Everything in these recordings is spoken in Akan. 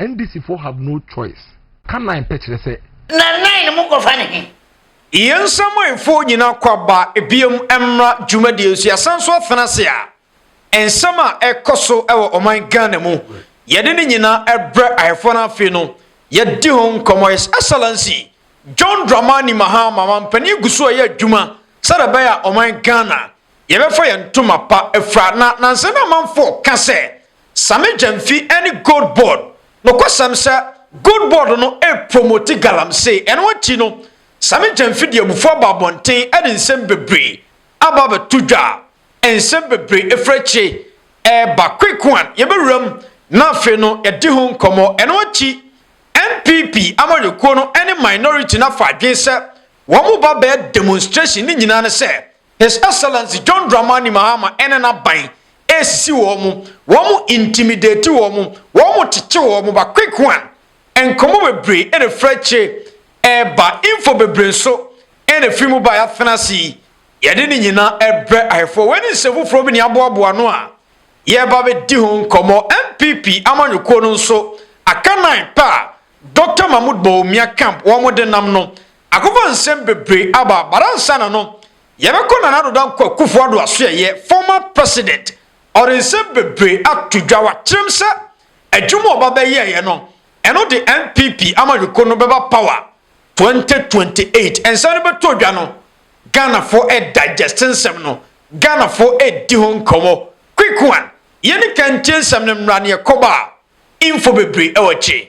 NDC foɔ have no choice. Ka nine pɛ kyerɛ sɛ. Na nine no mo kɔfa ne he? Yɛn nsamuaefoɔ nyinaa kɔ aba biom mmra dwumadie nso yɛasan nso afena ase a nsɛm a ɛkɔ so wɔ ɔman Ghana mu yɛde ne nyinaa brɛ ahɛfoɔ no afei no yɛdi ho nkɔmɔ His Excellency John Dramani Mahama mampanin gu so ɛyɛ adwuma sɛdeɛ ɛbɛyɛ a ɔman Ghana yɛbɛfa yɛn ntoma pa afira na nansa na amanfoɔ ka sɛ Same Gyamfi ne Gold Board. Nokwasɛm sɛ Gold Board no repromoti galamsey, ɛno akyi no Same Gyamfi de abufuo aba abɔnten de nsɛm bebree aba abɛto dwa a nsɛm bebree ɛfiri akyire reba. Quick one, yɛbɛwura mu na afei no yɛadi ho nkɔmmɔ. Ɛno akyi NPP amanyɔkuo no ne minority no afa adwene sɛ wɔn ba bɛyɛ demonstration ne nyinaa ne sɛ His Excellency John Dramani Mahama ɛne n'aban ɛresisi wɔn, wɔn intimidate wɔn, wɔn kyekye wɔn ba quick one, nkɔmmɔ bebree ɛna ɛfiri akyire ɛreba, info bebree nso ɛna ɛfiri mu ba yɛatena ase yi, yɛde ne nyinaa ɛbrɛ ahwɛfoɔ. Wei ne nsɛm foforɔ bi ne aboaboa ano a yɛreba bɛdi ho nkɔmmɔ. NPP amanyɔkuo no nso aka nan pɛ a Dr. Mahmoud Bawumia camp wɔn de nam no Akokɔ nsɛm bebree aba but ansa na no yɛbɛkɔ Nana Addo Dankwa Akufo Addo Asoɛeɛ, former president, ɔde nsɛm bebree ato dwa wakyerɛm sɛ adwuma a ɔba bɛyɛeɛ no ɛno de NPP amanyɔkuo no bɛba power 2028 nsɛm no bɛtɔ dwa no Ghanafoɔ redigest nsɛm no Ghanafoɔ redi ho nkɔmmɔ quick one yɛni kan ntie nsɛm no mmra ne ɛkɔba a info bebree wɔ akyire.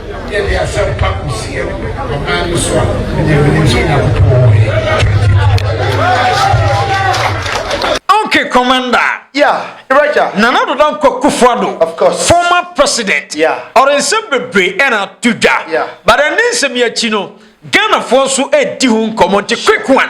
Yɛde asɛmpa kɔsie no ɔman no so a, ɛnneɛ menim sɛ Onyankopɔn wɔ he. Okay, Commander. Yeah, Iraja. Nana Addo Dankwa Akufo-Addo. Of course. Former president. Yeah. Ɔde nsɛm bebree ɛna ato dwa. Yeah. But ɛne nsɛm yi akyi no, Ghanafoɔ nso ɛredi ho nkɔmmɔ nti quick one.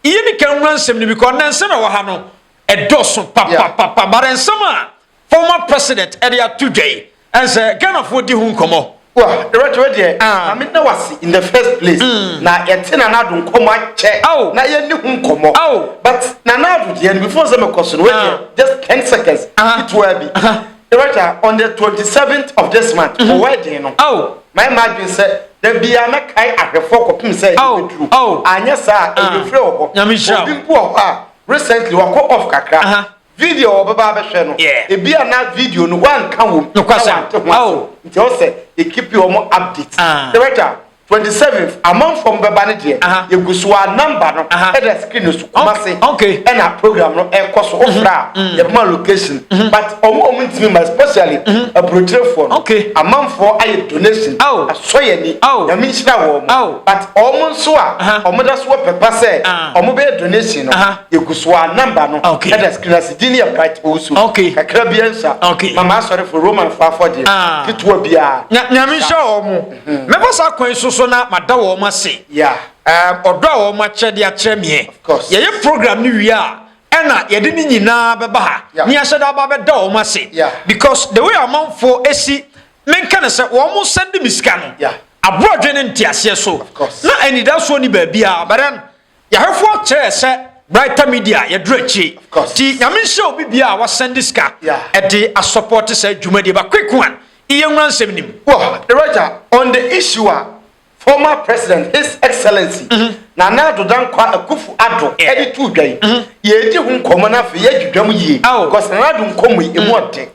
Yɛni kan nwura nsɛm no because na nsɛm ɛwɔ ha no ɛdɔɔso papapapa. Yeah. But nsɛm a Former president ɛde ato dwa yi ɛnsɛ Ghanafoɔ di ho nkɔmɔ. Wah Director wei deɛ Ah. ma meda wo ase in the first place na yɛte Nana Addo nkɔmmɔ akyɛ Ao. na yɛnni ho nkɔmmɔ Ao. but Nana Addo deɛ no before sɛ mekɔ so no wei deɛ Ah. just ten seconds Aha. ketewa bi Aha. Director on the twenty seventh of this month wɔ wedding no Ao. mayɛ m'adwene sɛ da biara mɛkae ahwɛfoɔ kɔpem sɛ Ao. ɛbɛduru Ao. anyɛ saa a Ah. ɛbɛfiri wɔ hɔ Nyame nhyira wo. obi mpo wɔ hɔ a recently wakɔ off kakra Aha. Video a wɔbɛba abɛhwɛ no, Yeah. ebia na video no wɔanka wom na Nokwasɛm. wɔante ho asew. Oh. Nti ɛwɔ sɛ yɛkipi wɔn update. Ah. Director, 27th, amanfoɔ mo bɛba no deɛ, Aha. yɛgu so ara, number no Aha. ɛda screen no so, Kumase Ok- ok. ɛna program no ɛrekɔ so. Wofrɛ a, yɛbɛma location. But wɔn a wɔntumi mma, especially aburokyerefoɔ no, Ok. amanfoɔ ayɛ donation, Oh. asɔ yɛn ani, Oh. Nyame nhyira wɔn. Oh. But wɔn nso a Aha. wɔda so wɔ pɛpa sɛ Ah. wɔbɛyɛ donation no, Aha. egu so a number no okay. ɛda screen ase din yɛ bright owusu okay. kakra bi nsa okay. mama asɔrefo roman fo afɔdeɛ ah. ketewa biara nyame nhyɛ wɔn mo mhm. mɛbɔ saa kwan so so na mada wɔn mo ase ɔdɔ a wɔn akyɛ de akyerɛ meɛ yɛyɛ program no wie a ɛna yɛde ne nyinaa bɛba ha ne yɛhyɛ da aba bɛda wɔn ase because the way amanfoɔ esi menka ne sɛ wɔn mo sɛnde me sika no aboɔdwe ne nteaseɛ so na anidasoɔ ni baabi a bɛrɛ no Yɛhwɛfoɔ kyerɛɛ sɛ Brighter Media yɛduru akyire nti Nyame nhyira obi biara a wasɛnde sika de asɔpɔɔte saa dwumadie ba Quick One yi yɛnwura nsɛm no mu. Wɔ Director, on the issue a former President His Excellency Nana Addo Dankwa Akuffo Addo de too dwa yi, yɛredi ho nkɔmmɔ na afei yɛadwidwa mu yie because Nana Addo nkɔmmɔ yi, ɛmu ɔden.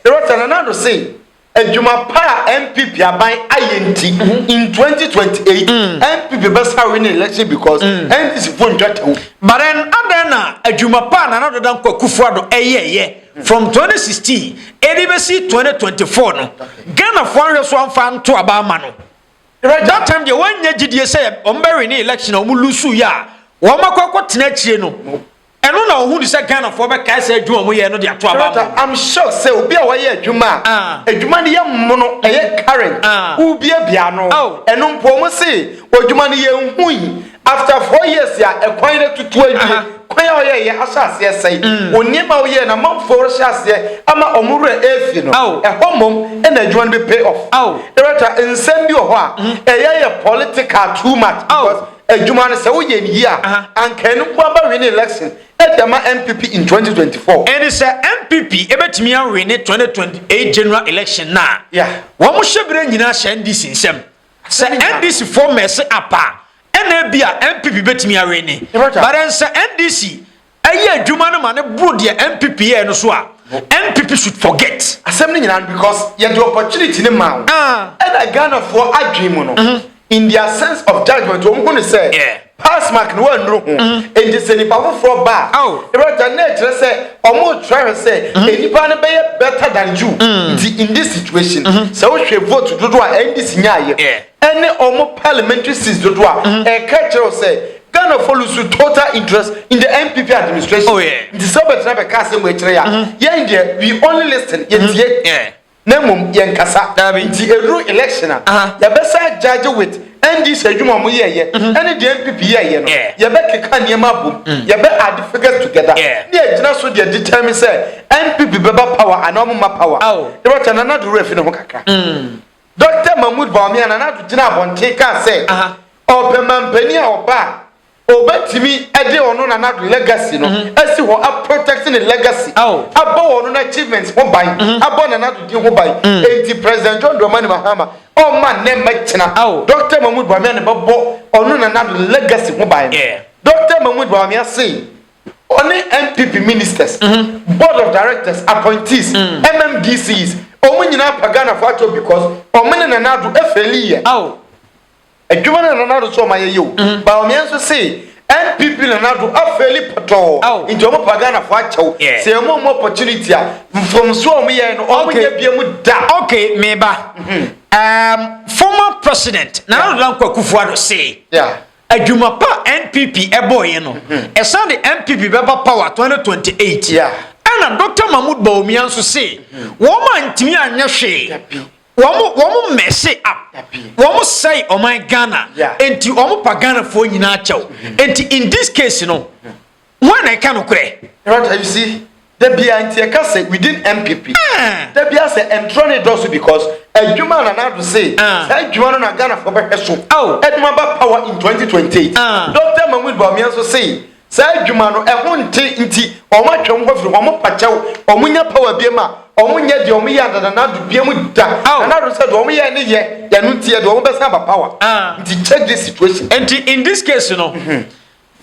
Director, Nana Addo sei Adwuma pa a NPP aban ayɛ nti in 2028 NPP bɛsa win election because NDC fo ntwa tɛw. But then adɛn na adwuma pa a Nana Ado Dankwa Akufo-Addo ɛyɛɛyɛ from 2016 ɛde bɛsi 2024 no Ghana foɔ anhwɛ so amfa anto aba ama no? That time deɛ wɔn nnya gyidie sɛ wɔn bɛ win election a wɔn loose yɛ a wɔn akɔ akɔ tena akyire no. Ɛno na ɔhunu sɛ Ghanafoɔ bɛkae saa adwuma a wɔyɛɛ no de ato aba ama wɔn. I'm sure sɛ obi a wayɛ adwuma a adwuma no yɛ mono, ɛyɛ current, wobiabia ano, ɛno mpo wɔn se odwuma no yɛnhui after four years a ɛkwan no atutu awie, kwan a ɔyɛeɛ ahyɛ aseɛ asɛe, wɔn nneɛma a woyɛɛ no amanfoɔ rehyɛ aseɛ ama wɔn werɛ afi no, ɛhɔ mmom na adwuma no bɛ pay off. Director, nsɛm bi wɔ hɔ a ɛyɛ yɛ political too much because. Adwuma no sɛ woyɛ no yie a, anka ɛno nko ara bɛwene election de ama NPP in 2024. Ɛne sɛ NPP bɛtumi awene 2028 general election no a, wɔhyɛ berɛ nyinaa hyɛ NDC nsam. Sɛ NDC foɔ mɛse apa a, ɛna ebia NPP bɛtumi awene. But ɛnsɛ NDC yɛ adwuma no ma no boro deɛ NPP yɛɛ no so a, NPP should forget. Asɛm no nyinaa no because yɛde opportunity no maa wo. Ɛna Ghanafoɔ adwene mu no, in their sense of judgement, wɔn hu no sɛ pass mark no wɔannuru ho. Enti sɛ nipa foforɔ ba a, ɛwuragya no na ɛkyerɛ sɛ wɔrekyerɛ ahwɛ sɛ nnipa no bɛyɛ better than you. Nti in this situation, sɛ wohwɛ vote dodoɔ a NDC nyaaeɛ, ɛne wɔn parliamentary seats dodoɔ a, ɛka kyerɛ wo sɛ Ghanafoɔ lose total interest in the NPP administration. Oh, yeah. Nti sɛ wobɛtena bɛka asɛm wei kyerɛ yɛ a, mm-hmm. yɛn deɛ we only listen, yɛtie. Mm-hmm. Yeah. na mmom yɛnkasa nti ɛduru election a yɛbɛsa judge with ndc adwuma ɔmo yɛɛyɛ mhm. ɛne deɛ npp yɛɛyɛ no yɛbɛkeka nneɛma abom mm. yɛbɛ add figures together ne yɛgyina so deɛ determine sɛ npp bɛba power anaa ɔmo ma power yɛbɛkyɛ nana de werɛ fi ne ho kakra mm. Dɔkta Mahmoud Bawumia na n'ado gyinaa abɔnten kaa sɛ ɔpɛ manpanin a ɔba a, obetumi de ɔno na n'ado legacy no asi hɔ a protect ne legacy, abɔ ɔno n'achievements ho ban, abɔ na n'ado din ho ban. Enti President John Dramani Mahama ɔmma nnɛ mmɛkyena, Dɔkta Mahmoud Bawumia na ɛbɛbɔ ɔno na n'ado legacy ho ban. Dɔkta Mahmoud Bawumia se ɔne NPP ministers, board of directors, appointees, MMDCs, wɔn nyinaa pa Ghana fo akyɛw because wɔn ne Nana Addo ɛfɛli yɛ. Aw. Adwuma no na Nana Addo so wɔn ayɛ yɛ o. Mm-hmm. Ba wɔn yɛn nso se NPP Nana Addo afɛli pɔtɔɔ. Aw. Nti wɔn pa Ghana fo akyɛw. Yeah. Se wɔn mu opportunity a, mfomso a wɔn yɛ no, wɔn okay. nyɛ bia mu da. Okay, meba. Mm-hmm. Um, former president Nana Addo Dankwa Akufo-Addo se. Yeah. Adwuma pa a NPP bɔeɛ no, ɛsan de NPP bɛba power 2028. Ɛna Doctor Mahmoud Bawumia nso se wɔn antumi anyɛ hwee, wɔn wɔn mɛse up, wɔn sɛe ɔman Ghana, enti wɔn pa Ghanafoɔ nyinaa kyɛw. Enti in this case no, Hwan na ɛka nokorɛ? Rata you see da biara nti ɛka sɛ within MPP da biara sɛ ntorɔ ne dɔɔso because adwuma a Nana Addo say saa adwuma no na Ghanafoɔ bɛhwɛ so de mo aba power in 2028 Doctor Mahmood Bawumia nso say saa adwuma no ɛho nte nti wɔn atwa wɔn ho afiri wɔn pakyɛw wɔn nya power biam a wɔn nyɛ deɛ wɔn yɛ ada Nana Addo biam da Nana Addo sɛ deɛ wɔn yɛ ne yɛ yɛn no nti yɛ deɛ wɔn bɛsan aba power nti check this situation. Nti in this case no.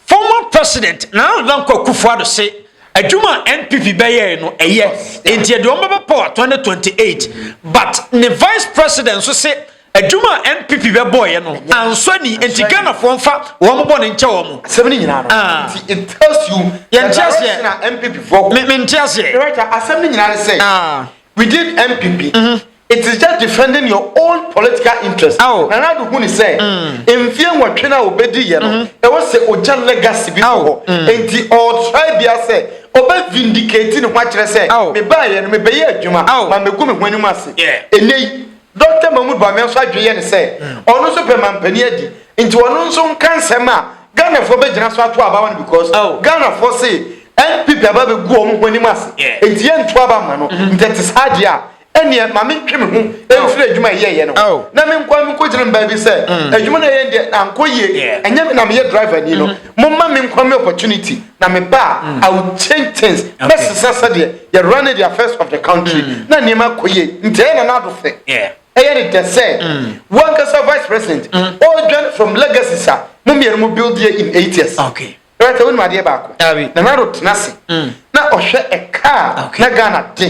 Former President Nana Dankwa Akufo-Addo se adwuma a NPP bɛyɛe no ɛyɛ nti ɛde wɔn bɛba power 2028 but ne Vice President nso se adwuma a NPP bɛbɔeɛ no ansɔ ani nti Ghanafoɔ mfa wɔn bɔne nkyɛ wɔn. Asɛm no nyinaa no ah. nti it tells you yɛn nti aseɛ na NPP foɔ. Me nti aseɛ. Director asɛm no nyinaa no sɛ ah. within NPP mm-hmm. It is just defending your own political interest. Aw. Nana Addo hu ne sɛ mfeɛ nwɔtwe no a ɔbɛdiiɛ no, ɛwɔ sɛ ɔgya legacy bi wɔ hɔ. Enti ɔretry biara sɛ ɔbɛ vindicate ne ho akyerɛ sɛ Aw. mebaeɛ no mebɛyɛ adwuma, Aw. mammɛgu me ho anim ase. Yeah. Ɛnnɛ yi, Dɔkta Mahmood Bawumia nso adwene yɛ ne sɛ ɔno nso pɛ mampanin adi, nti ɔno nso nka nsɛm a Ghanafoɔ bɛgyina so ato aba ma no because Aw. Ghanafoɔ se NPP aba abɛgu wɔn ho anim ase, Yeah. enti yɛnto aba mma no. Nti ɛte saa deɛ a, ɛnneɛ ma mentwe me ho mfiri adwuma a ɛyɛeɛ no ho na menkɔ nkɔgyina mbaa bi sɛ adwuma no ɛyɛ deɛ ankɔ yie ɛnyɛ me na meyɛ driver ni no momma menkɔ me opportunity na meba a I will change things mɛsesa sɛdeɛ yɛ run the affairs of the country na nneɛma akɔ yie nti ɛyɛ na nado fɛ ɛyɛ ne dɛ sɛ wankasa vice president ɔredwane from legacies a mo mmienu mo build yɛ in eight years. Ɛyɛ sɛ wonim adeɛ baako. Nana Addo tena ase na ɔhwɛ a car na Ghana de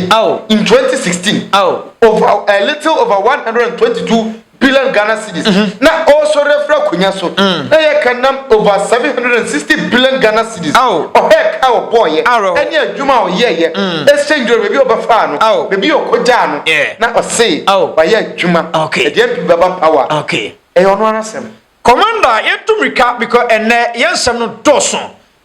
in 2016 over a little over 122 billion Ghana cedis na ɔresɔre afiri akonnwa so na yɛ ka nam over 760 billion Ghana cedis ɔhwɛ a car ɔbɔɔyɛ ɛne adwuma a ɔyɛɛyɛ exchange rate baabi a ɔbɛfaa no baabi a ɔkɔgyaa no na ɔse wayɛ adwuma ɛdeɛ mpi bɛba power ɛyɛ ɔno ara asɛm. Commander yɛntu mirika because ɛnnɛ yɛn nsɛm no dɔɔso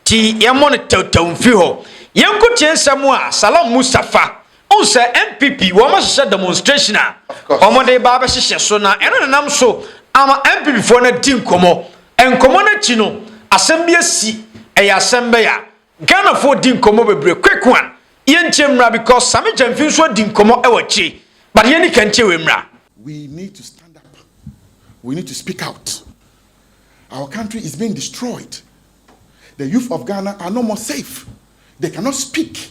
nti yɛmmɔ no tɛwtɛw mfiri hɔ. Yɛnko tie nsɛm a Salam Mustapha wohu sɛ NPP wɔn ahyehyɛ demonstration a wɔn de reba abɛhyehyɛ so na ɛno na ɛnam so ama NPP foɔ no adi nkɔmmɔ. Nkɔmmɔ no akyi no asɛm bi asi ɛyɛ asɛm bɛyɛ a Ghanafoɔ di nkɔmmɔ bebree quick one yɛntie mmra because Sammy Gyamfi nso adi nkɔmmɔ wɔ akyire but yɛnni kan ntie wei mmra. We need to stand up we need to speak out our country is being destroyed the youth of Ghana are no more safe they cannot speak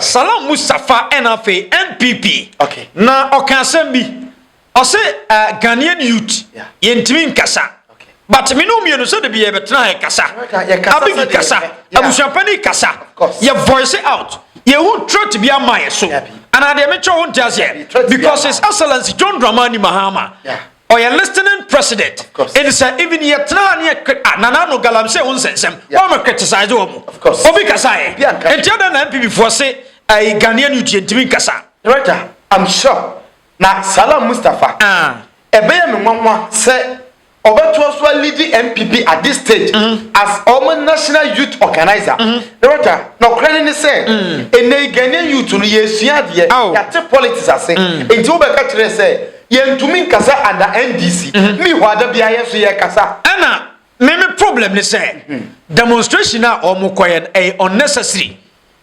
Salam Mustapha ɛna afei NPP okay. na ɔka asɛm bi ɔse uh, Ghanaian youth yeah. yɛntumi nkasa okay. but me ne mmienu sɛ de bi yɛbɛtena ha yɛkasa abigi kasa abusuapani kasa yɛ voice out yɛhu threat bi ama yɛ so anaa deɛ mekyɛ ho nte aseɛ because his excellence john dramani mahama yeah. ɔyɛ listening president ɛni sɛ even yɛ tena ne yɛ kre a nana ano galamsey ho nsɛnsɛm wɔn mo criticize wɔn mo obi kasa yɛ nti ɛdɛ na npp foɔ se ɛyi ghanaian youth yɛ ntumi nkasa. director i'm sure na salam mustapha ɛbɛyɛ ah. me nwanwa sɛ ɔbɛtoa so alidi npp at this stage mm-hmm. as ɔmo national youth organizer mm-hmm. director na ɔkora ne ne sɛ ɛnɛ mm. ghanaian youth no yɛ esua adeɛ yɛate politics ase mm. nti wobɛka kyerɛ sɛ Yɛntumi nkasa under NDC. Me hɔ a da biara yɛn nso yɛkasa. Ɛna me me problem ne sɛ demonstration a wɔn kɔyɛ no ɛyɛ unnecessary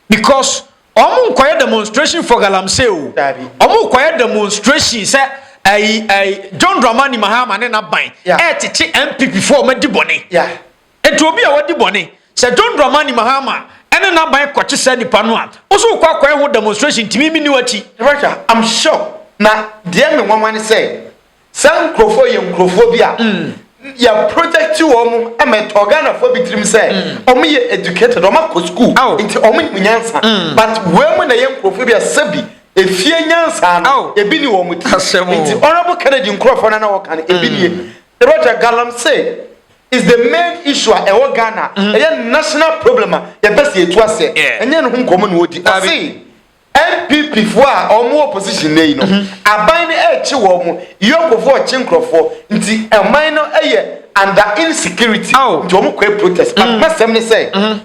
because wɔn nkɔyɛ demonstration for galamsey o wɔn kɔyɛ demonstration sɛ ɛyi ɛyi John Dramani Mahama ne n'aban ɛɛtete NPP fo wɔn adi bɔne. Enti obi a wadi bɔne, sɛ John Dramani Mahama ne n'aban kɔkye saa nipa no a, wo nso wokɔ akɔyɛ ho demonstration ntumi mini w'akyi. Yɛbɛhwɛ, I'm sure, na deɛ me nwanwa ne sɛ, saa nkurofoɔ yi yɛ nkurofoɔ bi a yɛ project wɔn ma ɛtɔɔ Ghanafoɔ bi tirim sɛ wɔn yɛ educated, wɔn akɔ school, nti wɔn nim nyansa, but wei mo na ɛyɛ nkurofoɔ bi a sɛbi efie nyansa no ebi ni wɔn ti, nti Honourable Kennedy nkurofoɔ no a na wɔka no ebi nie. Yɛbɛhwɛ, Galamsey. is the main issue a ɛwɔ Ghana. Mm-hmm. Ɛyɛ national problem a yɛpɛ sɛ yɛtu asɛ. Ɛnyɛ ne ho nkɔmmɔ na wɔdi. Ɔse NPP foɔ a wɔn wɔ opposition na yi no, mm-hmm. aban no ɛrekye wɔn, yɔkofoɔ ɔkye nkurɔfoɔ, nti ɛman no ɛyɛ under insecurity, nti wɔn kɔɛ protest. But mm-hmm. masɛm ne sɛ,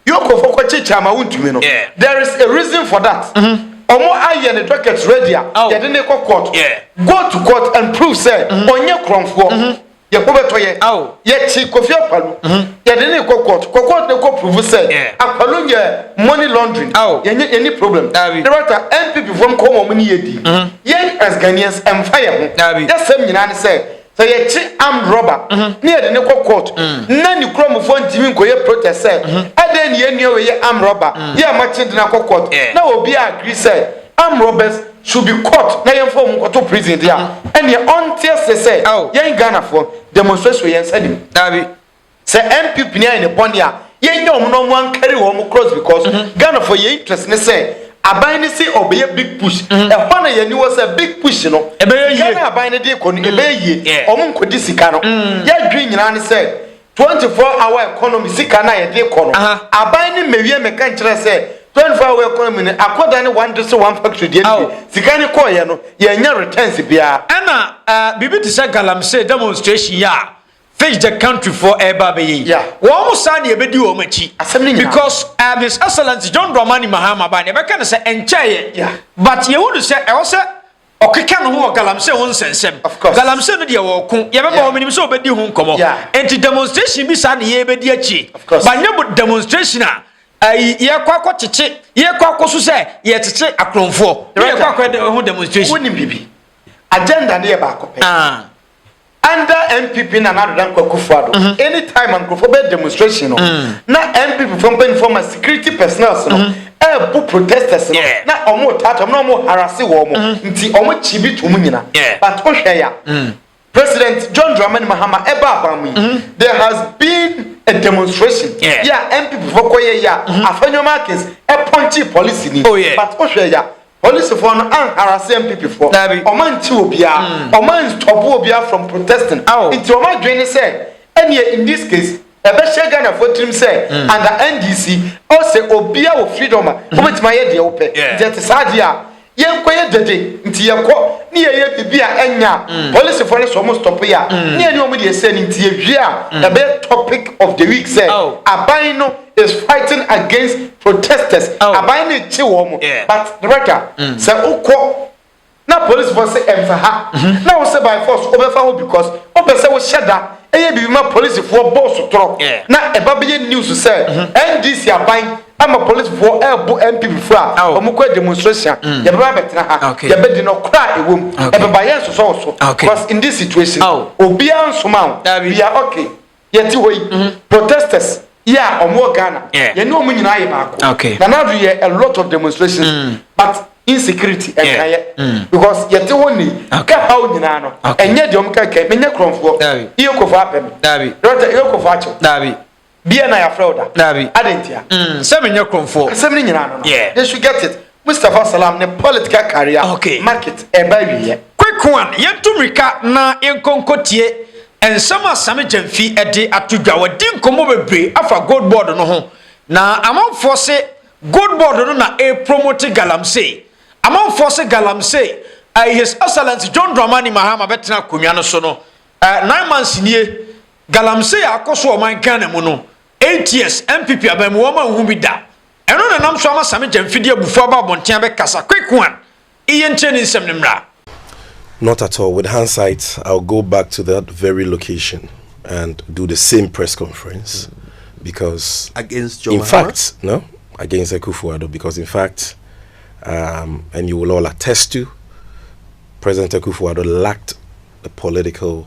Yokofo kɔ kyekye ama wo ntumi no there is a reason for that ɔmo ayɛ ne docket ready a yɛde ne kɔ court go to court and prove sɛ ɔnyɛ korɔnfoɔ yɛ ho bɛtɔ yɛ yɛ kye Kofi Akpaloo yɛde ne kɔ court kɔ court ne kɔ prove sɛ Akpaloo nyɛ money laundering yɛ nyɛ yɛ ni problem director NPP foɔ nkɔmɔ ɔmo ne yɛ di yɛn as Ghanaians ɛnfa yɛ ho yɛ sɛm nyinaa ne sɛ sɛ yɛkye armed robber mhm. ne yɛde ne kɔ court mhm. na ne kuromfoɔ ntumi nkɔyɛ protest sɛ mhm. ɛdɛn ne yɛnnua wei yɛ armed robber yɛ amakye de no akɔ court na obi a agree sɛ armed robbers should be caught na yɛmfa wɔn nkɔto prison deɛ ɛneɛ ɔnteɛ se sɛ yɛn ghanafoɔ demonstration yɛn nsa nim daabi Sɛ MP pini ayɛ ne bɔne a, yɛnyɛ wɔn na wɔn ankari wɔn cross because mm -hmm. Ghana for yɛ interest ne sɛ aban ne se ɔbɛyɛ big push ɛhɔ mm -hmm. na yɛn ni wɔ sɛ big push no ɛbɛyɛ yie Ghana aban ne de kɔ no mm. ɛbɛyɛ yie wɔn nkɔdi sika no mm. yɛdwi nyinaa ne sɛ 24 hour economy sika na yɛde kɔ no aban ne mmewie mɛka nkyerɛ sɛ 24 hour economy no akɔda ne one district one factory deɛ no sika ne kɔɔyɛ no yɛnyɛ returns biara ɛna eh, biribi te sɛ galamsey demonstration yɛ a Fish the country for ɛreba abɛyɛ yi. Yeah. Wɔn mo saa na yɛbɛdi wɔn akyi. Asɛm ne nyinaa. Because uh, His Excellency John Dramani Mahama ba na yɛbɛka no sɛ ɛnkyɛeɛ. Yeah. But yɛhu no sɛ ɛwɔ sɛ ɔkeka ne ho wɔ galamsey ho nsɛnsɛm galamsey no deɛ wɔko yɛbɛma wɔn menim sɛ wɔbɛdi ho nkɔmɔ nti demonstration bi saa ne yɛbɛdi akyire banyɛ demonstration a ayi yɛkɔ akɔ kyekye yɛkɔ akɔ so sɛ yɛkyekye akorɔmfoɔ yɛkɔ akɔ ho demonstration. wọ́n ní bìbí agenda ni yɛ baako pɛ. Ah. Under NPP Nana Ado Dankwa Akufo-Addo, mm-hmm. anytime a nkurɔfoɔ bɛyɛ demonstration no, mm. na NPP fo mpanimfoɔ ma security personnels no ɛɛbu mm-hmm. protesters no na wɔn taata wɔn na wɔn harase wɔn mm-hmm. nti wɔn kyi bi tum nyina but wohwɛ ya mm. President John Dramani Mahama ɛba aban mu yi there has been a demonstration yɛ a NPP fo kɔ yɛ yɛ a afɛnyɔma akins ɛpɔnkye policy ni oh, but wohwɛ ya. Polisifɔɔ no anharase MPPfɔɔ. Daabi. Wɔn ankye obiara. Wɔn anstɔpo obiara from protesting. Aw. Nti wɔn adwene ne sɛ, ɛneɛ in this case, ɛbɛhyɛ Ghanafoɔ tirim sɛ under NDC, ɔɔ sɛ obiara wɔ freedom a wobɛtumi ayɛ deɛ wopɛ. Yeah. Nti ɛte saa deɛ a, yɛnkɔyɛ dede. Nti yɛkɔ ne yɛyɛ biribi a ɛnyɛ a, polisifɔɔ no sɛ wɔn stɔpo yɛ a, ne yɛne wɔn deɛ ɛsɛ no. Nti yɛwie a, ɛbɛyɛ topic of the week sɛ, Aw. aban no. is fighting against protesters oh. aban ne kye wɔn mo but rɛda mm. sɛ wokɔ na police fɔ sɛ ɛmfa ha mm-hmm. na wo sɛ by force wobɛfa hɔ because wopɛ sɛ wohyɛ da ɛyɛ biribi ma policefoɔ bɔɔ so torɔ na ɛba bɛyɛ news sɛ mm-hmm. ndc aban ama policefoɔ ɛɛbo nppfoɔ a oh. wɔn kɔ demonstration mm. yɛbɛba bɛtena ha yɛbɛdi no kora a ɛwɔ mu ɛbɛba yɛn nsosɔ wɔ so because in this situation oh. obiara nsoma o we are okay. yɛte hɔ yi mhm. protesters yi a wɔn wɔ ghana yɛne wɔn nyinaa yɛ baako nana ado yɛ a lot of demonstrations mm. but insecurity ɛnka yɛ mm. because yɛte hɔ ni ɛha wo nyinaa no ɛnyɛ deɛ wɔn kɛkɛ menyɛ kurɔnfoɔ iye kofo abɛm rɔta iye kofo akyɛw bia na yɛafrɛ wo da ade ntia mm. sɛ menyɛ kurɔnfoɔ asɛm no nyinaa no no they should get it Mustapha Salam ne Political Career okay. Market ɛba awieɛ. Quick one, yɛntu mmirika na yɛnkɔ nkɔtie nsɛm a Sami Gyamfi de ato dwa. Wadi nkɔmmɔ bebree afa Gold Board no ho na amanfoɔ se Gold Board no na ɛrepromote galamsey. Amanfoɔ se galamsey uh, His Excellency John Dramani Mahama bɛtena akonnwa no so no uh, nine months nie galamsey a akɔ so ɔman Ghana mu no eight years MPP aban mu wɔn a nhu bi da. Ɛno na nam so ama Sami Gya mfidie abufo aba abɔnten abɛkasa, Quick one, Iye nkyerɛ ne nsɛm no mmra. Not at all, with handsight I will go back to that very location and do the same press conference because against John in Mahama? fact, no, against Akufo-Addo because in fact, um, and you will all attest to, President Akufo-Addo lacked the political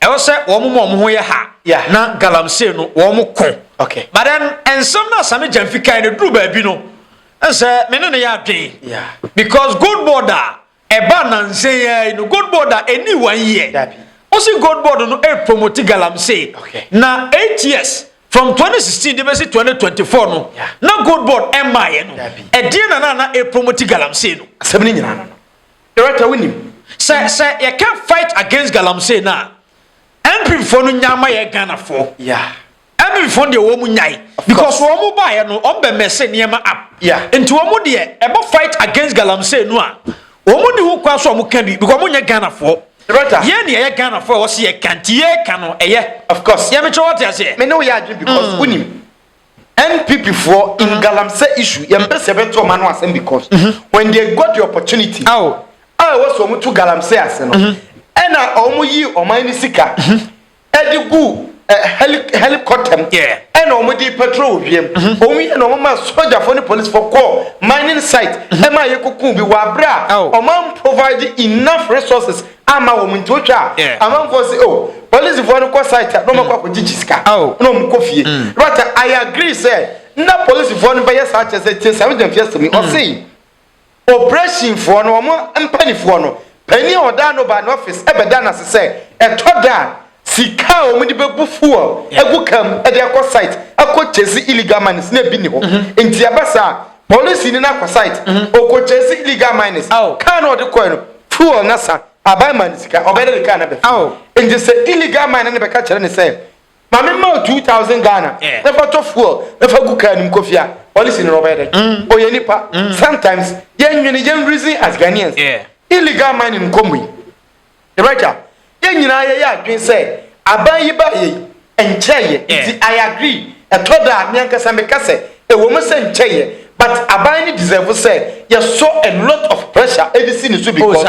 Ɛwɔ sɛ wɔn ma wɔn ho yɛ ha yeah. na galamsey no wɔn ko okay. but then nsɛm no a Same Gyamfi kae no duru baabi no nsɛ me ne no yɛ adwen yeah. because gold board a ɛba nansa yi ara yi no gold board a ɛni one year Dabi. ɔsi gold board no ɛrepromoti galamsey okay. na eight years from 2016 de bɛsi 2024 no yeah. na gold board ɛmmaeɛ no ɛdeɛ na na na ɛpromoti galamsey no asɛm no nyinaa no Director wonim sɛ sɛ yɛka fight against galamsey no a MP foɔ no nyaa ma yɛ Ghana foɔ. Yeah. MP foɔ no deɛ wɔn nyae because wɔn baeɛ no wɔn bɛ mɛse nneɛma up. Yeah. Nti wɔn deɛ ɛbɔ fight against galamsey no a wɔn ni ho kwan so wɔn ka bi because wɔn nyɛ Ghana foɔ. Director. Yɛn ni ɛyɛ Ghana foɔ ɛwɔ se yɛ ka nti yɛ ka no ɛyɛ. Of course. Yɛ mekyerɛ wɔte aseɛ. Me ne wo yɛ adwene because wonim. NPP foɔ in galamsey issue yɛn mpɛ sɛ yɛbɛto wɔn ano asɛm because when they got the opportunity a ɛwɔ sɛ wɔn to galamsey ase no ɛna wɔn yi ɔman ne sika ɛde gu helicopter mu ɛna wɔn de petrol wɔ wiem wɔn yɛ na wɔn ma sojafoɔ ne policefoɔ kɔ mining site ɛma yɛ koko bi wɔ abere a wɔn provide enough resources Amma wɔn nti wotwa a, Yeah. amanfoɔ se oh, polisifoɔ no kɔ site a na wɔakɔ akɔgyegye sika Oh. na wɔkɔ fie. Mm. But I agree sɛ na polisifoɔ no bɛyɛ saa kyɛ sɛ tie saa William fi asɛm yi. Mm. Ɔse operativefoɔ no wɔn mpanifoɔ no panin a ɔda no ba ne office ɛbɛda no ase sɛ ɛtɔ da a Sika a wɔde bɛbu fuel agu car mu de akɔ site akɔ chase illegal miners na ebi ni hɔ. Nti ɛba saa a, polisini no akɔ site, ɔkɔ chase illegal miners, car no a ɔde kɔe no, fuel no asa, aban ma no sika, ɔbɛyɛ dɛ de car no abɛfa. Nti sɛ illegal miner no bɛka kyerɛ no sɛ, Ma memma wo two thousand Ghana na fa tɔ fuel na fa gu car no mu kɔ fie a, polisini no ɔbɛyɛ dɛn? Ɔyɛ nipa. Sometimes yɛnnwene, yɛn reason as Ghanaians. Illegal mining nkɔ mmui. Yɛn Agya, yɛn nyinaa yɛyɛ adwene sɛ aban yi baeɛ yi nkyɛɛ yɛ nti I agree ɛtɔ da a me ankasa meka sɛ ɛwɔ mu sɛ nkyɛɛ yɛ but aban no deserve sɛ yɛsɔ a lot of pressure ɛde si ne so because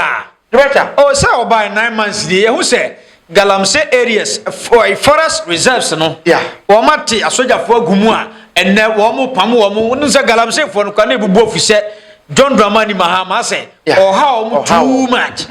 Yɛn Agya. Oh sɛ ɔbae nine months nie yɛhu sɛ Galamsey areas forest reserves no wɔn ate asogyafoɔ agu mu a ɛnnɛ wɔn pam wɔn wonim sɛ Galamseyfoɔ no koraa na ɛbubu afisɛ John Dramani Mahama sɛ Yeah. Ɔhaw ɔmo Ɔhaw too ɔmo. much.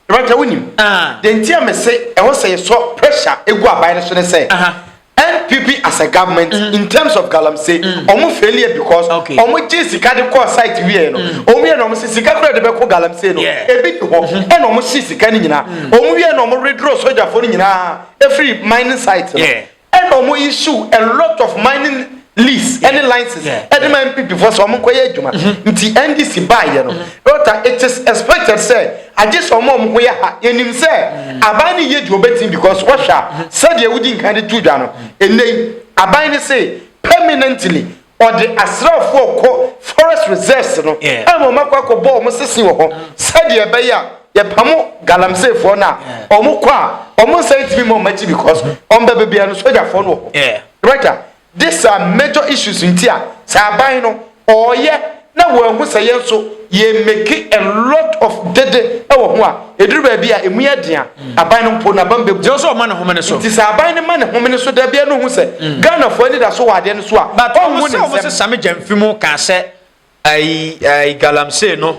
Rebecca wonim Ah. deɛ nti a mese ɛwɔ sɛ yɛsɔ pressure ɛgu aban no so ne sɛ Aha. NPP as a government in terms of galamsey ɔmo failure because Okay. ɔmo gye sika de kɔɔ site wieɛ no ɔmo yɛ na ɔmo se sika kura de bɛkɔ galamsey no Yeah. ebi di hɔ ɛna ɔmo hye sika no nyinaa ɔmo wie na ɔmo redoro sogyafoɔ no nyinaa ɛfiri mining site no Yeah. Ɛna ɔmo yi su a lot of mining lease ɛne license ɛde ma NPP fo sɛ ɔmo nkɔ yɛ adwuma mm-hmm. nti NDC baa yɛ no ɔta mm-hmm. it is expected sɛ agye sɛ ɔmo ɔmo ko yɛ ha yɛnim sɛ mm-hmm. aban ne yɛ di ɔbɛtim because wɔhwɛ a sɛdeɛ wodi nkan de tu dwa no ɛnɛ yi aban ne se permanently Wɔde asraafoɔ rekɔ forest reserves no ama wɔn akɔ akɔbɔ wɔn sese wɔ hɔ sɛdeɛ ɛbɛyɛ a yɛpamo galamseefoɔ no a wɔn kɔ a wɔn nsa ntumi ma wɔn akyi because wɔn bɛbɛ bia no sogyafoɔ no wɔ hɔ. Director, these are major issues nti a sɛ aban no ɔɔyɛ na wɔanhu sɛ yɛn nso yɛ make a lot of dede wɔ ho a, ɛduru baabi a ɛmu yɛ den a, aban no mpo n'abam bɛbu. Gyɛ sɛ ɔma ne homene so. Nti sɛ aban no ma ne homene so da biara na ɔhu sɛ mm. Ghanafoɔ anidaso wɔ adeɛ no so a, But ɔhu ne nsɛm. But wɔn sɛ wɔn same gyamfi mu kaa sɛ ayi ayi galamsey no,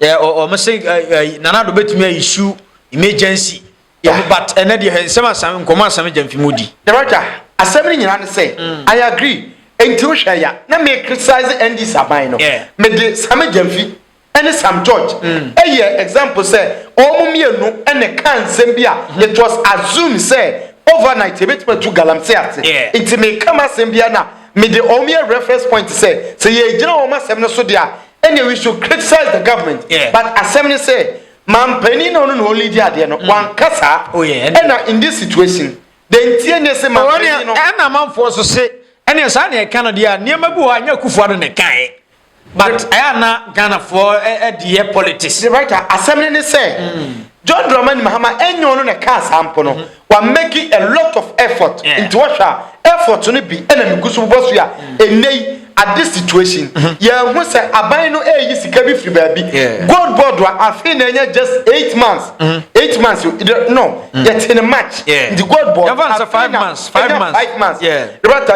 wɔn se ayi nanado betumi ayi su emergency. yɛ ho but ɛnɛ deɛ hɛ nsɛm asɛm nkɔmɔ asɛm agya mfi mu di. Director, asɛm no nyinaa ne sɛ mm. I agree nti wohwɛ ya na me criticize NDC aban no yeah. mede Sam Gyamfi ɛne Sam George mm. ɛyɛ mm. example sɛ wɔn mmienu ɛna ka nsɛm bi a mm. it was assumed sɛ overnight ebetumi atu galamsey ase yeah. nti me ka ma asɛm bi na mede wɔn yɛ reference point sɛ sɛ yɛgyina wɔn asɛm no so deɛ ɛna we should criticize the government yeah. but asɛm no sɛ Manpanin na ɔno na ɔlidi adeɛ no, mm. wanka saa. Oh, ɛna in this situation, the ntie ne se manpanin no. Ɛna amanfoɔ so se, ɛne saa na ɛka no deɛ a, nneɛma bi wɔ anyɛ akufoɔ ado na ɛkae. But ɛyɛ na Ghanafoɔ ɛdeɛ politics. The writer, asɛm ne ne sɛ, mm. John Dramani Mahama ɛnyɛ ɔno na ɛka saa mpo no, mm-hmm. Wa make a lot of effort nti wohwɛ a effort no bi na megu so bobɔ so yi a ɛnnɛ yi at this situation yɛahu sɛ aban no ɛreyi sika bi firi baabi gold board a afei na ɛnyɛ just eight months eight months no yɛte ne march nti gold board afei na ɛnyɛ five months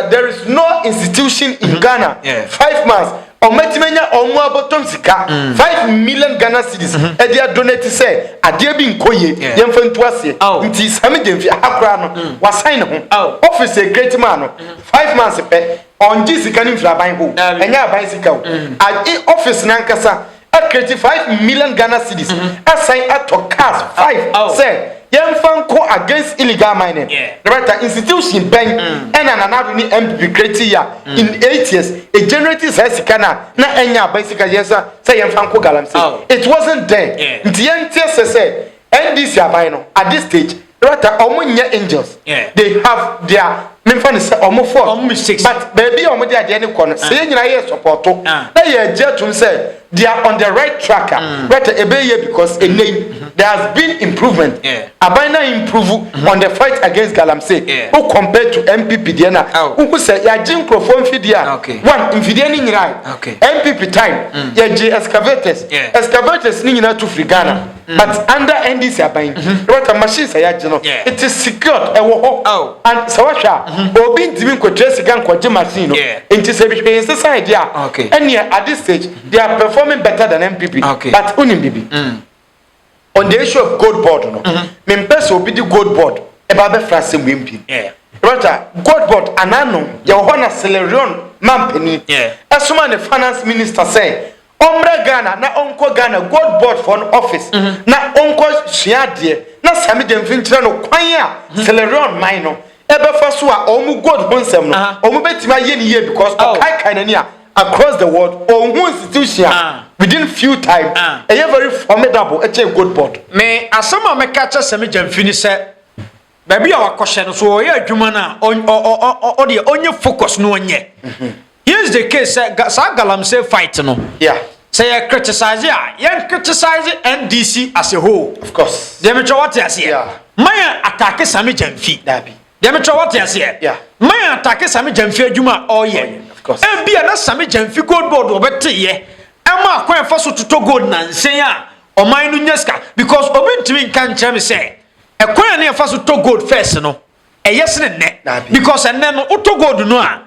there is no institution in Ghana five months Wɔatumi anya wɔn mu abɔtɔm sika five million Ghana cedis de adonate sɛ adeɛ bi nkɔ yie, yɛmfa ntu aseɛ. Nti Sammy Gyamfi, aha koraa no, wasan ne ho. Office a ɛcreate maa no, five months pɛ, ɔngye sika no mfiri aban hɔ o, ɛnyɛ aban sika o. Ae, office no ankasa, Akreti five million Ghana cedis asan atɔ cars five sɛ yɛnfa nko against illegal mining. Director, Institution bɛn ɛna Nana Addo ne NPP create yɛ a in eight years e generate saa sika no a na ɛnyɛ aban sika yɛn nsa sɛ yɛnfa nko galamsey? It wasn't there. Nti yɛnteɛ sɛ sɛ NDC aban no at this stage, Rata ɔmo nyɛ angels. Yeah. They have their memfa no sɛ ɔmo fɔ. Ɔmo mistakes. But baabi a ɔmo de adeɛ ne kɔ no sɛ yɛn nyinaa yɛ sɔpɔto na yɛ gye atum sɛ they are on the right track a rata ebe yɛ because ene yi there has been improvement. Yeah. Aban na improve on the fight against galamsey. Yeah. O compare to MPP deɛ na. Oh. Wohu sɛ yɛagye nkurɔfoɔ mfidie a. Okay. One mfidie ne nyinaa. Okay. MPP time yɛgye excavators. Yeah. Excavators ne nyinaa tu firi Ghana. Mm. But under NDC aban yi, mm-hmm. ɛbɛka machines a yɛagye no, it is secured, ɛwɔ hɔ. Oh. And sɛ wohwɛ a, mm-hmm. obi ntumi nkɔtua sika nkɔgye machine no. Nti sɛ bihwɛ yɛn nsesa ade a, ɛneɛ at this stage, mm-hmm. they are performing better than MPP. Okay. But wonim bibi. Mm. On the issue of gold board no, mempɛ sɛ obi de gold board ɛba bɛfra asɛm wei mpim. Rata, gold board anano, yɛwɔ hɔ na Celerion mampani, ɛsoma ne finance minister sɛ, Ɔmmra Ghana na ɔnkɔ Ghana Gold Board foɔ no office na ɔnkɔ sua adeɛ na Sammy Gyamfi nkyerɛ no kwan a Sierraleone man no bɛfa so a wɔn gold ho nsɛm no wɔn bɛtumi ayɛ no yie because ɔkaekae n'ani a across the world ɔnhu institution a within few time ɛyɛ very formidable kyɛn Gold Board. Me asɛm a mɛka akyerɛ Sammy Gyamfi ne sɛ. baabi a wakɔhyɛ no so ɔyɛ adwuma no a ɔdeɛ ɔnyɛ focus no ɔnyɛ mhm. here's the case sɛ saa galamsey fight no sɛ yɛ criticize a yɛn criticize ndc as a whole of course deɛ metwɛ wɔte aseɛ ma yɛn atake same gyamfi deɛ metwɛ wɔte aseɛ ma yɛn atake same gyamfi adwuma a ɔyɛ ebi a na same gyamfi gold board ɔbɛteyɛ ɛma akwan ɛfa so totɔ gold nansen a ɔman no nya sika because obi ntumi nka nkyerɛ me sɛ Ɛkwan a ne yɛfa so tɔ gold first no, ɛyɛ sene nnɛ. Because ɛnnɛ no, wotɔ gold no a,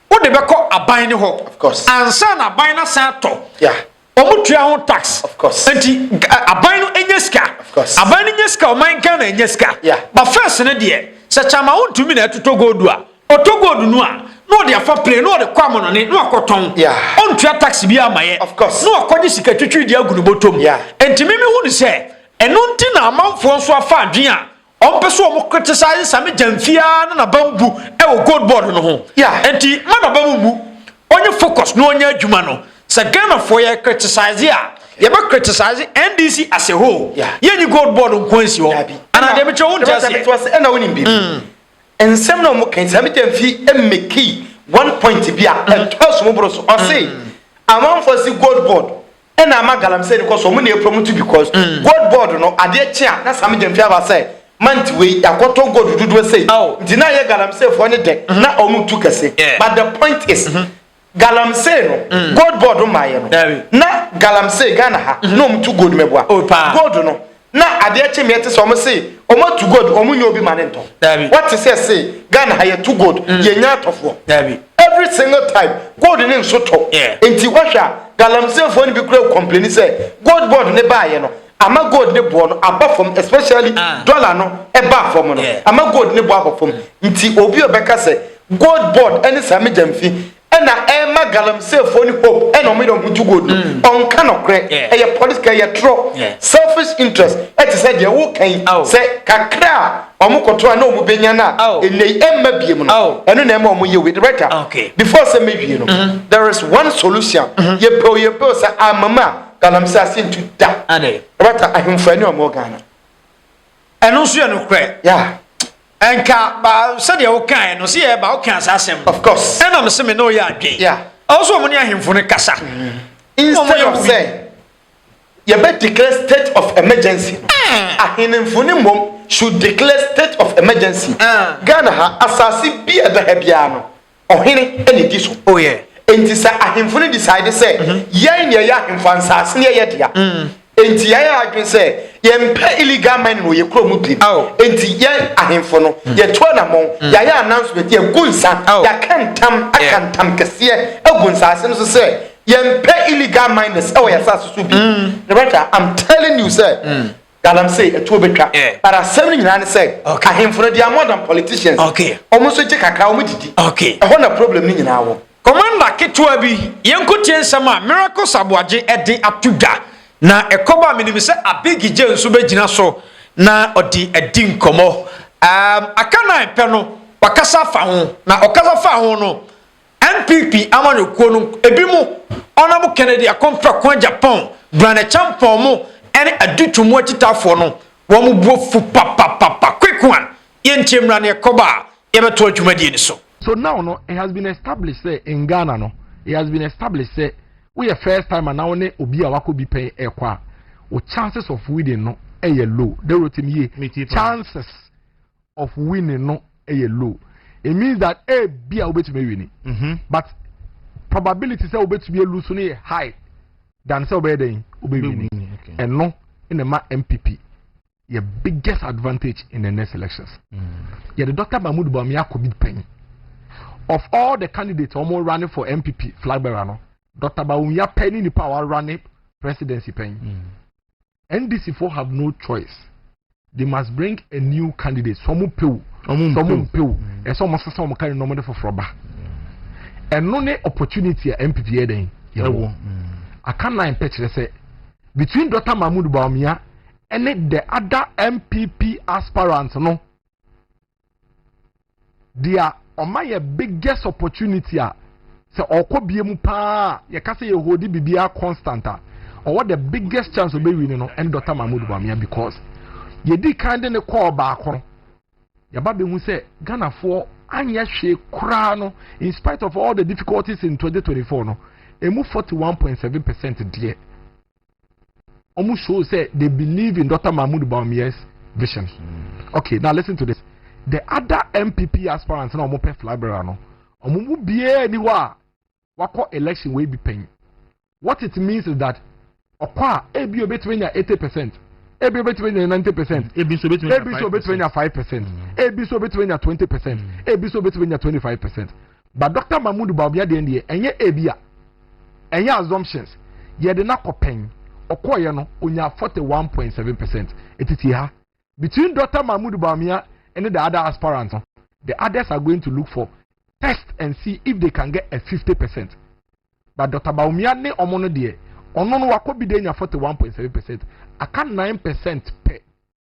wode bɛkɔ aban no hɔ. Ansa na aban no asan atɔ. Wɔn tua ho tax. Nti aban no nya sika. Aban no nya sika, ɔman Ghana nya sika. Ba first no deɛ, sɛ kyama wontumi na ɛtotɔ gold a, ɔtɔ gold no a, na ɔde afa plane, na ɔde kɔ amonɔne, na wakɔtɔn. Ɔntua tax bi ama yɛ. Na wakɔgye sika twitwi de agu ne bɔtɔ mu. Nti mimi hu ne sɛ, Ɛno nti na amanfoɔ nso afa adwene a wɔmpɛ sɛ wɔn criticize Same Gyamfi ara ne naba mbu wɔ Gold Board no ho. Yeah. Ɛnti mma naba mu mmu, ɔnyɛ focus na ɔnyɛ adwuma no. Sɛ Ghanafoɔ yɛ criticize a, yɛbɛ criticize NDC as a whole. Yeah. Yɛnyi Gold Board nkoa nsi hɔ. Dabi. Anaa deɛ mekyerɛ wonte aseɛ. Mete wase, ɛna wonim biribi. Nsɛm no a wɔka yi, Same Gyamfi mmekii one point bi a ɛtɔɔ asom boro so. Ɔse amanfoɔ se Gold Board Nna ama galamsey no kɔ so, ɔmo na epra mu tse because gold board no adeɛ kye a na Same Gyamfi aba sɛ month wei yɛakɔtɔ gold dodoɔ sei nti na ɛyɛ galamsey foɔ no dɛ na ɔmo tu kɛse but the point is galamsey no gold board mmaeɛ no na galamsey Ghana ha na ɔmo tu gold mɛboa gold no na adeɛ kye meɛ te sɛ ɔmo se ɔmo atu gold ɔmo nyɛ obi ma ne ntɔ Dabi. wɔte sɛ se Ghana ha yɛtu gold mm. yɛnya atɔfoɔ Dabi. every single time gold ne nso tɔ yeah. nti wɔhwɛ a galamseefoɔ no bi kura kɔmpleni sɛ gold board ne baayɛ no ama gold ne boɔ no aba fam especially ah. dollar no ɛba fam no yeah. ama gold ne boɔ aba fam mm. nti obi ɔbɛka sɛ gold board ɛne saa megya mfi ɛna ɛma galamseefoɔ ne hope ɛna ɔmo yɛ ɔmo to gold no mm. ɔnka nɔkorɛ ɛyɛ political ɛyɛ torɔ selfish interest ɛte sɛ deɛ woka yi sɛ kakra a ɔmo kɔtɔ a na ɔmo bɛnya no a ɛnɛ yi ɛmma bie mu no ɛno na ɛma ɔmo yɛ wei director ah, before sɛ mɛwie no mm-hmm. there is one solution mm-hmm. yɛpɛw yɛpɛw sɛ amama galamsee ase ntu da director ahemfo ɛne ɔmo ghana Ɛno nso yɛ nokorɛ. Yeah. Ɛnka ba sɛdeɛ wokaeɛ no sɛ yɛba wokaa saa asɛm no. Of course. Ɛna me se me ne woyɛ adwene. Yeah. Ɛwɔ sɛ wɔn ne ahemfo no kasa. Mm. Instead of sɛ yɛbɛ declare state of emergency no. Ah. Ahemfo no mmom should declare state of emergency. Ah. Ghana ha asase bi a ɛda ha biara no. Ɔhene na edi so. Oh yeah. Enti sɛ ahemfo no decide sɛ yɛn na yɛyɛ ahemfo a, nsaase no yɛ yɛ dea. Enti yɛayɛ adwene sɛ yɛmpɛ illegal mining wɔ yɛn kurom mu bio. Ao. Enti yɛn ahemfo no, yɛatu anammɔn, yɛayɛ announcement, yɛagu nsa, Ao. yɛaka ntam, aka Yeah. ntam kɛseɛ agu nsaase no so sɛ yɛmpɛ illegal miners wɔ yɛn asaase so bio. Loretta, I'm telling you sɛ Galamsey ɛtuo bɛtwa but asɛm no nyinaa ne sɛ ahemfo no they are more than politicians ɔmo nso gye kakra ɔmo didi ɛhɔ na problem no nyinaa wɔ. Commander ketewa bi, yɛnko tie nsɛm a Miracles Aboagye ɛde ato dwa, na ɛkɔba a menim sɛ Abiggyɛ nso bɛgyina so na ɔde adi nkɔmmɔ. Umm aka nan pɛ no wakasa afa ho, na ɔkasa faa ho no NPP amanyɔkuo no ebinom ɔnam Kennedy Akon Prako Agyapong, Brane Kyampong mo ɛne Adu Twum mo akyitaafoɔ no wɔn bo afu papapapa quick one yɛntie mmra neɛ ɛkɔba a yɛbɛtoa dwumadie no so. So now no it has been established sɛ in Ghana no it has been established sɛ wo yɛ first timer na wo ne obi a wakɔ bi pɛn ɛkɔ a wo chances of winning no ɛyɛ low Dorotim yie chances of winning no ɛyɛ low it means that a bi a wobɛtumi awi ni but probability sɛ wobɛtumi alu so no yɛ high than sɛ wobɛyɛ dɛn wobɛwi ni ɛno na ɛma mpp yɛ biggest advantage in the next elections mm. yɛde dr mahmood bɔmi akɔ bi pɛn of all the candidates wɔn running for mpp flag bearer no dr bawumia pɛn ne nipa a wɔarane presidency pɛn. Mm. NDC foɔ have no choice they must bring a new candidate sɛ ɔmo pew sɛ ɔmo mpew ɛsɛ ɔmo sesa ɔmo candidate na ɔmo de foforɔ ba ɛno ne opportunity a npp yɛ dɛn yɛwɔ aka nine pɛ kyerɛ sɛ between dr mahmood baumia ɛne the other npp aspirant no deɛ ɔma yɛ biggest opportunity a sɛ ɔkɔ bie mu paa yɛka sɛ yɛhodi biribiara constant a ɔwɔ the biggest chance ɔbɛwi no no ɛne dɔta mahmud bamia because yɛdi kan de ne kɔɔ baako no yɛba bɛhu sɛ ghanafoɔ anyɛ hwee koraa no in spite of all the difficulties in 2024 no ɛmu 41.7 percent deɛ wɔn show sɛ they believe in dr mahmood bawumia's vision mm. okay now listen to this the other mpp aspirants na wɔn pɛ flabera no wɔn mu biara ni hɔ a wakɔ election wei bi pɛn what it means is that ɔkɔ a ebi obetumi nya eighty percent ebi obetumi nya ninety percent ebi nso obetumi nya five percent ebi nso obetumi nya twenty percent ebi nso obetumi nya twenty five percent But Doctor Mahmood Bawumia deɛ ndeɛ ɛnyɛ ebia ɛnyɛ assumptions yɛde no akɔ pɛn ɔkɔɔyɛ no ɔnyaa forty one point seven percent ɛti tie ha between Doctor Mahmood Bawumia ne the other aspirants no the others are going to look for test and see if they can get a fifty percent but Doctor Bawumia ne ɔmo no deɛ ɔno no wakɔ bi de anya forty one point seven percent aka nine percent pɛ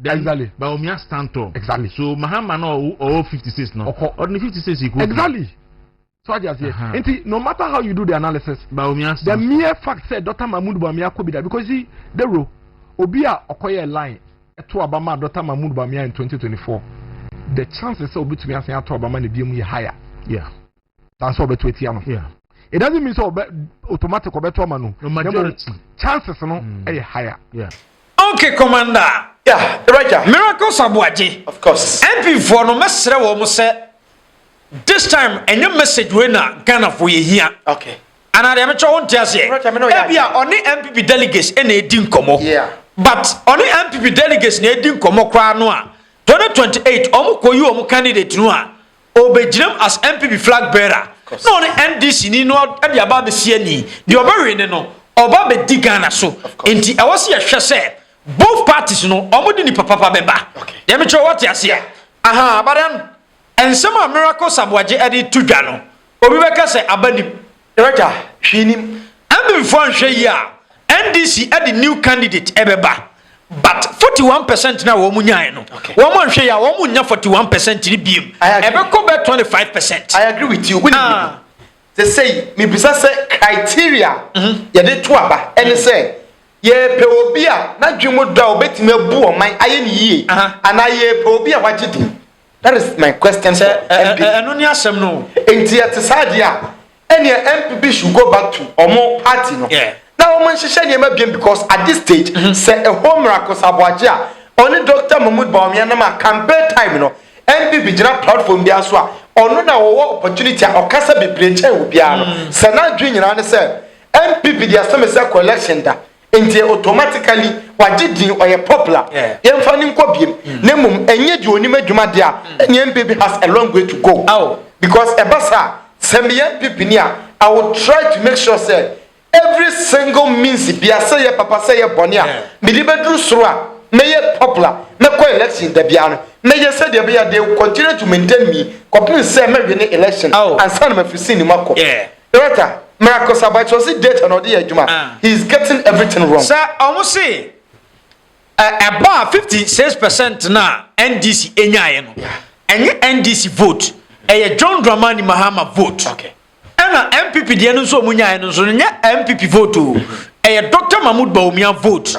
then exactly. Bawumia stand tall exactly. so Mahama no ɔwɔ fifty six no ɔkɔ ɔde ne fifty six ekuo exactly. so adi aseɛ uh -huh. nti no matter how you do the analysis Bawumia stand the mere fact sɛ Dr. Mahmoud Bawumia kɔ bi da because see dero obi a ɔkɔyɛ line ɛto aba ma Dr. Mahmoud Bawumia in twenty twenty four the chances sɛ obetumi asan ato aba ma ne bi mu yɛ higher. Yeah. than sɛ ɔbɛto atia no it doesn't mean sɛ ɔbɛ automatic ɔbɛto ama no no majority chances no mm. ɛyɛ higher. Yeah. okay commander. yeah raja. miracle sabuaje. of course. mp foɔ no mɛsrɛ wɔn sɛ this time ɛnyɛ message wei na ghana foɔ yɛ hia. okay. anaa deɛ mɛtwa wɔn ti aseɛ. raja mi n'o yɛ adeɛ. ebi a ɔne npp delegates ɛna edi nkɔmɔ. yeah. but ɔne npp delegates na edi nkɔmɔ koraa no a twenty twenty eight wɔn kɔ yi wɔn candidate no a. Ɔbɛgyinam as NPP flag bearer na ɔne NDC ni no de aba abɛsi ani. Deɛ ɔbɛwe ne no, ɔba abɛdi Ghana so. Nti ɛwɔ sɛ yɛhwɛ sɛ both parties no wɔde nipa papa bɛba. Deɛ mekyerɛ wo wate aseɛ? Ahaa, but then nsɛm a Miracle Sabuagye de to dwa no, obi bɛka sɛ aba nim. Wagya, hwee nim. Amim foɔ anhwɛ yie a, NDC de new candidate ɛbɛba. But 41 percent no a wɔn nyaeɛ no, okay. wɔn anhwɛ yie a, wɔn nnya 41 percent no biem. Ɛbɛkɔ bɛ 25 percent. I agree with you. Wini ah. Sɛ sɛ yi, mibisa sɛ criteria mhm. yɛde to aba ɛne mhm. sɛ yɛpɛ obi a n'adwene mu dɔ a obetumi abu ɔman ayɛ ne yie anaa yɛpɛ obi a wagye din. That is my question for NPP. Ɛno ni asɛm no. Nti ɛte saa deɛ a, ɛneɛ NPP should go back to ɔmo party no. Na ɔmo nhyehyɛ nneɛma biem because at this stage, mm-hmm. sɛ ɛhɔ miracle saboagye a, ɔne Dr. Mahmoud Bawumia nam a campaign time no, NPP gyina platform biara so a, ɔno na wɔwɔ opportunity a ɔkasa bebree kyɛn obiara no. Mm. Sɛ n'adwene nyinaa ne sɛ NPP deɛ sɛ me sɛ collection da. Nti automatically wagye din ɔyɛ popular yɛmfa no nkɔ biem hmm. na mmom ɛnyɛ deɛ onim adwuma deɛ a hmm. ɛneɛ mpp has a long way to go because ɛba saa sɛ meyɛ mpp ni a I will try to make sure sɛ every single means bia sɛ yɛ papa sɛ yɛ bɔne a mede bɛduru soro a mɛyɛ popular mɛkɔ election da biara no mɛyɛ sɛdeɛ ɛbɛyɛ they will continue to maintain me kɔpem sɛ mɛwene election ansa na mafiri sini mu akɔ Bertha, Miracosa but ɔse data na ɔde yɛ adwuma, he is getting everything wrong. Sɛ ɔmo se ɛ ɛba a 56 percent no a NDC nyaeɛ no, ɛnyɛ NDC vote, ɛyɛ John Dramani Mahama vote. Ɛna NPP deɛ no nso a ɔmo nyaeɛ no nso no, ɛnyɛ NPP vote o, ɛyɛ Doctor Mahmoud Bawumia vote.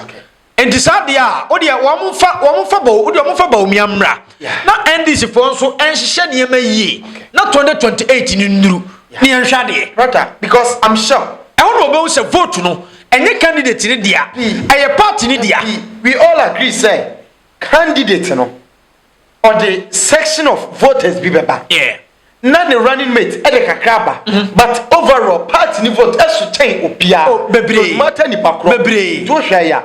Nti saa deɛ a wodeɛ wɔn mfa wɔn mfa bɔ wodeɛ wɔn mfa Bawumia mmra na NDC foɔ nso nhyehyɛ nneɛma yie na 2028 no nnuru ne yɛn hwɛ adeɛ. Brother because I'm sure. Ɛhɔ na wɔbɛhu sɛ vote no ɛnyɛ candidate no dea ɛyɛ party no dea. We all agree sɛ candidate no ɔde section of voters bi bɛba na ne running mate ɛde kakra aba mm-hmm. but overall party ni vote ɛso kyɛn obiara oh, bebree mata nipa korɔ bebree tó hwɛ ya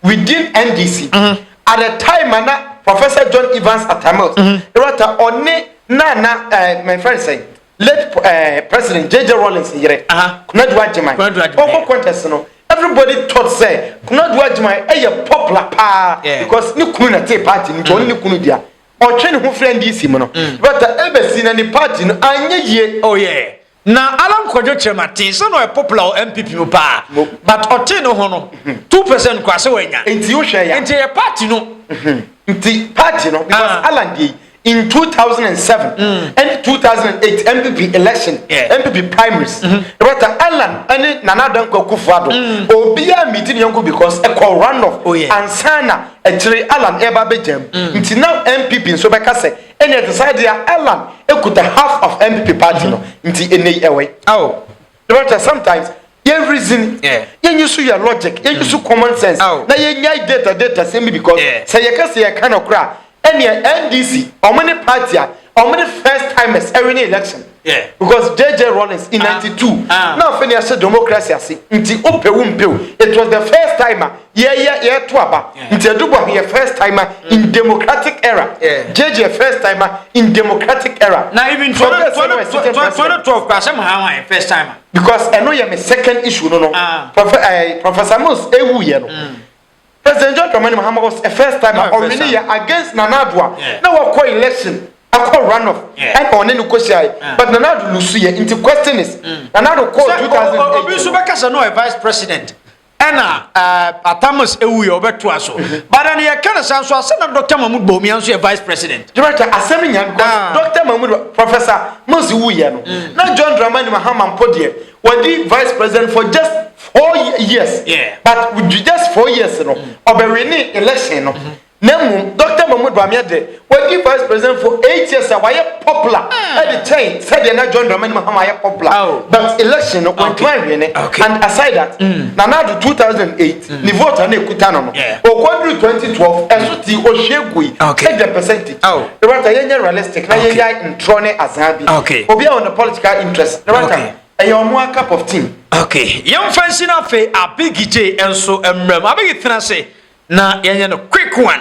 within ndc mm-hmm. at the time ana professor john evans atamils mm-hmm. ɛwata ɔne nana ɛɛ eh, my friend sɛ Late eh, President JJ Rawlings yere, uh -huh. Konadu Agyeman. Konadu Agyeman. Ɔkɔ contest no, everybody thought sɛ Konadu Agyeman ɛyɛ popular paa. Yeah. Because ne kunu na te party no, ɔne ne mm. kunu dua. Ɔtwe ne ho fira NDC mu no. Mm. But uh, ebesi na ne party no anyɛ yie. Oh yeah na alan kwadwo kyerɛma tee sɛ na ɔyɛ popular wɔ mpp mu paa but ɔtee no ho no mhm. two percent kora sɛ wanya nti wohwɛ ya nti yɛ party no mhm. nti party no because ah. alan deɛ in 2007 mm. and 2008 MPP election yeah. MPP primaries mm -hmm. Rota Allan ɛne Nana Dankwa Kufuado mm. obiara miti ne yɔnko because ɛkɔ runoff oh, yeah. ansana akyire Allan ɛba bɛgyam mm. nti na MPP nso bɛka sɛ ɛne ɛte sɛ deɛ Allan ekuta half of MPP party no mm-hmm. nti ɛnɛ yi ɛwɛ. Oh. The matter sometimes yɛn reason yɛn yi so yɛ logic yɛn yi so mm. common sense na yɛn nya data data sɛm bi because sɛ yɛ kɛse yɛ ka no kora ɛnneɛ ndc ɔmo ne party a ɔmo ne first timers ɛwin ne election because jj rollins in ah. ninety two ah. na afei ne ɛhyɛ democracy ase nti o pɛ wo mpɛ o it was the first timer Yɛyɛ yɛto aba nti ɛdu bɔ yɛ first timer in democratic era JJ yɛ first timer in democratic era. Na even twenty twenty twelve kura sɛ mo ha yɛ first timer. Because ɛno yɛ me second issue no no ah. eh, Professor Mills ewu yɛ no. Mm. President John Dramani Mahama was a first timer ɔwini yɛ against Nana Adua na wakɔ election akɔ runoff ɛna ɔne no kɔ hyia yɛ but Nana Ado lusu yɛ nti question is mm. Nana Ado kɔ two thousand eight. Obi nso bɛka sɛ no yɛ vice president. ɛna eh, atamas ewu yɛ ɔbɛtoa so bada no yɛka no saa nso asɛ na dr mahmud bawumia nso yɛ vice president director asɛm nya no ah. dr mahmud professor mose wu yɛ no mm. na john dramani mahama mpo deɛ wɔdi vice president for just four years yeah. but with just four years no ɔbɛwini election no mm-hmm. Na mmom Dɔkta Mahmoud Bawumia de, wadi Vice President for eight years a wayɛ popular de kyɛn sɛdeɛ na John Dramani Mahama yɛ popular but election no wantumi anhwee ne and aside that Nana Addo two thousand and eight ne vote a na ɛkuta no no ɔkɔduru twenty twelve ɛso tii ɔhwie gui sɛdeɛ percentage ne wata yɛnyɛ realistic na yɛyae ntorɔ ne azaa bi obi a ɔne political interest ne wata ɛyɛ ɔmo a cup of tea. Okay, yɛmfa nhyina afei Abigi J nso mmram. Abigi tena ase. Na yɛnyɛ no quick one.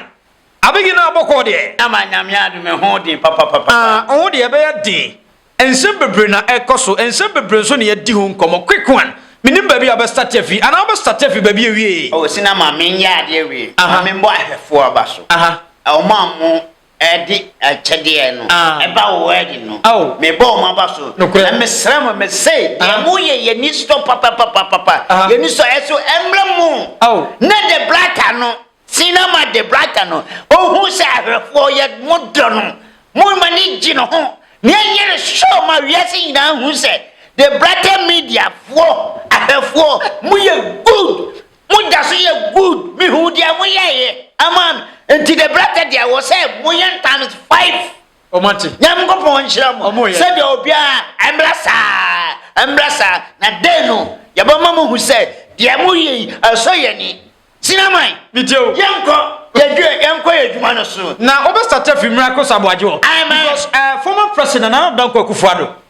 Abegi na abɔkɔɔ deɛ. Ama nyame adom ɛho den papapapa. Ah ɔho deɛ ɛbɛyɛ den. Nsɛm bebree na ɛkɔ so nsɛm bebree nso na yɛdi ho nkɔmɔ quick one menim baabi a wobɛ starte afi anaa wobɛ starte afi baabi awie. Oh Sina ma menyɛ adeɛ wei. Aha. Ma menbɔ ahwɛfoɔ aba so. Aha. Ɔmo a ɔmo de akyɛdeɛ no ba wo wedding no mebɔ wɔn aba so na mesrɛ mo me se deɛ mo yɛ yɛ ni sɔ papapapapa yɛ ni sɔ ɛso ɛmrɛ mo ne de brata no sina ma de brata no ohu sɛ ahwɛfoɔ yɛ mo dɔ no mo ma ne gye no ho ne ɛnyɛ ne sɔ ma wiase nyinaa hu sɛ de brata mediafoɔ ahwɛfoɔ mo yɛ good Mo da so yɛ good me hu deɛ mo yɛ yɛ ama me nti the brata deɛ wɔ sɛ mo yɛ no times five. Nyankopɔn nhyira mo sɛdeɛ obiara mmra saa mmra saa na day no yɛbɛma mo hu sɛ deɛ mo yɛ yi ɛsɔ yɛn ani. Sinaman yɛnkɔ yɛdwuma yɛnkɔ yɛ dwuma no so. Na wobɛ start afi miracle so aboagye hɔ because uh, former president Nana Dankwa Akufo-Addo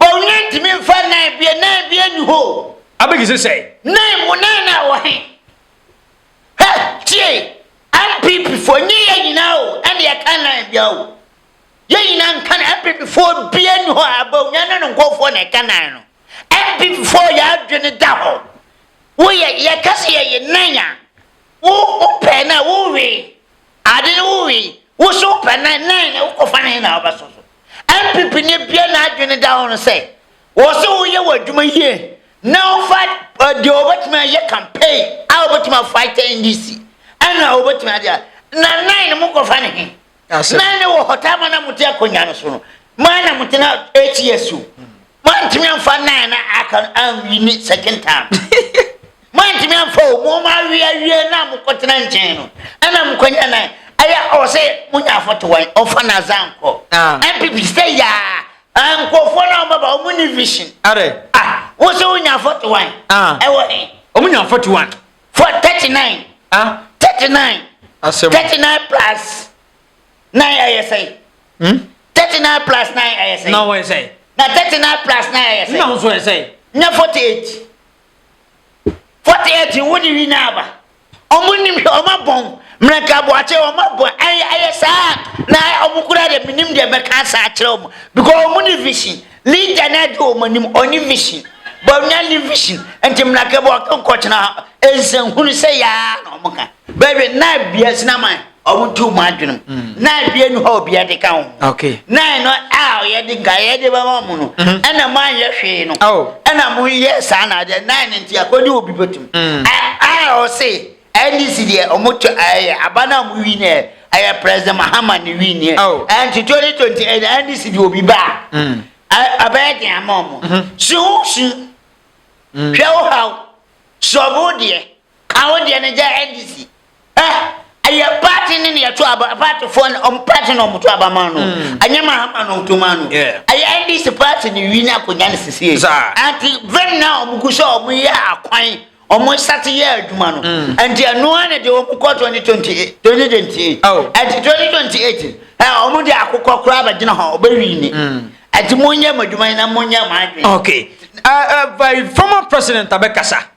Bɔwene ntumi mfa nan bie nan bie nni hɔ o. Abeg se sɛn. Nan mu nan na ɛwɔ he? Hɛ tie NPP foɔ nye yɛ nyinaa o ɛne ɛka nan bia o. Yɛ nyinaa nka no NPP foɔ bia nni hɔ a Bawumia ne ne nkɔɔfoɔ na ɛka nan no. NPP foɔ yɛ adwene da hɔ. Wo yɛ yɛka se yɛye nan a wo wo pɛɛ no a wo wee Ade no wo wii wo so pɛ nan nan na wokɔ fa ne na wo bɛ so so NPP ni bia na adwene da ho no sɛ wɔ se wo yɛ wɔ adwuma yie na wo fa deɛ wɔ bɛ tumi ayɛ campaign a wɔ bɛ tumi a fight NDC ɛna wɔ bɛ tumi ade a na nan no mo kɔ fa ne he nan no wɔ hɔ taa ma na mo te akonya no so no ma na mo te na 8 years o Moantumi amfa nnan na aka no anwi ne second term. Moantumi amfa o, mo ma awi awie na mokɔtena nkyɛn no. Ɛna mokɔnya nan. Ɛyɛ ɔwɔ sɛ monya afɔto wɔn, ɔmfa n'adze ankɔ. Ah. NPP sɛ yaa, ah, nkurɔfoɔ no a wɔbɛba, wɔn ni vision. Are. Ah, wo sɛ wonya afɔto wɔn. Ah. Ɛwɔ he? Wɔn nya afɔto wɔn. For thirty nine. Ah. Thirty nine. Asɛm. Thirty nine plus. nine ayɛ sɛn hmm? thirty nine plus nine ayɛ sɛn na wɔyɛ sɛn na thirty nine plus nine ayɛ sɛn na nso yɛ sɛn na forty eight forty eight wo de wi na aba ɔmo nim hwɛ ɔmo abɔn mmerɛnka aboakye ɔmo abɔn ɛyɛ ɛyɛ saa na ɔmo kura de mi nim deɛ mɛka saa kyerɛ ɔmo because ɔmo ni vision leader na ɛde ɔmo anim ɔni vision bɔnya ni vision nti mmerɛnka aboakye nkɔkyena nsɛnhunu sɛ yaa na ɔmo ka bɛbi nine bia sinaman. ɔmo tu mu adwenem mm. na adeɛ nu hɔ a obiara de ka ho na ɛno a ɔyɛ de nka yɛ de bɛma mo no mm-hmm. ɛna mo anyɛ hwee no oh. ɛna mo yɛ saa na adeɛ na ne nti akɔdi obi bɛtum mm. a ɔse ndc deɛ ɔmo to ɛyɛ aba na mo wi nɛ ɛyɛ president mahama ne wi nɛ oh. ɛnti twenty twenty ɛna ndc de obi ba mm. ɛbɛyɛ den ama ɔmo mm-hmm. si ho si hwɛ wo haw sɔbo deɛ. A wo deɛ no gya NDC. Eh, ɛyɛ party ne na yɛto aba, partyfoɔ no, ɔmo party na ɔmo to aba maa no. Ɛnyɛ mm. Mahama na ɔto maa no. Ɛyɛ NDC party ne wi na akonnwa no sisie. Anti vɛn na ɔmo gu sɛ ɔmo yɛ akwan, ɔmo sate yɛ adwuma no. Mm. Anti ɛnoa ne de ɔmo kɔ 2028, 2028. Anti 2028, ɛ ɔmo de akokɔ koraa bɛgyina hɔ, ɔbɛwi ni. Anti mm. mo nyɛ mo adwuma yi na mo nyɛ mo adwene. Okay. Uh, uh, former president abɛkasa.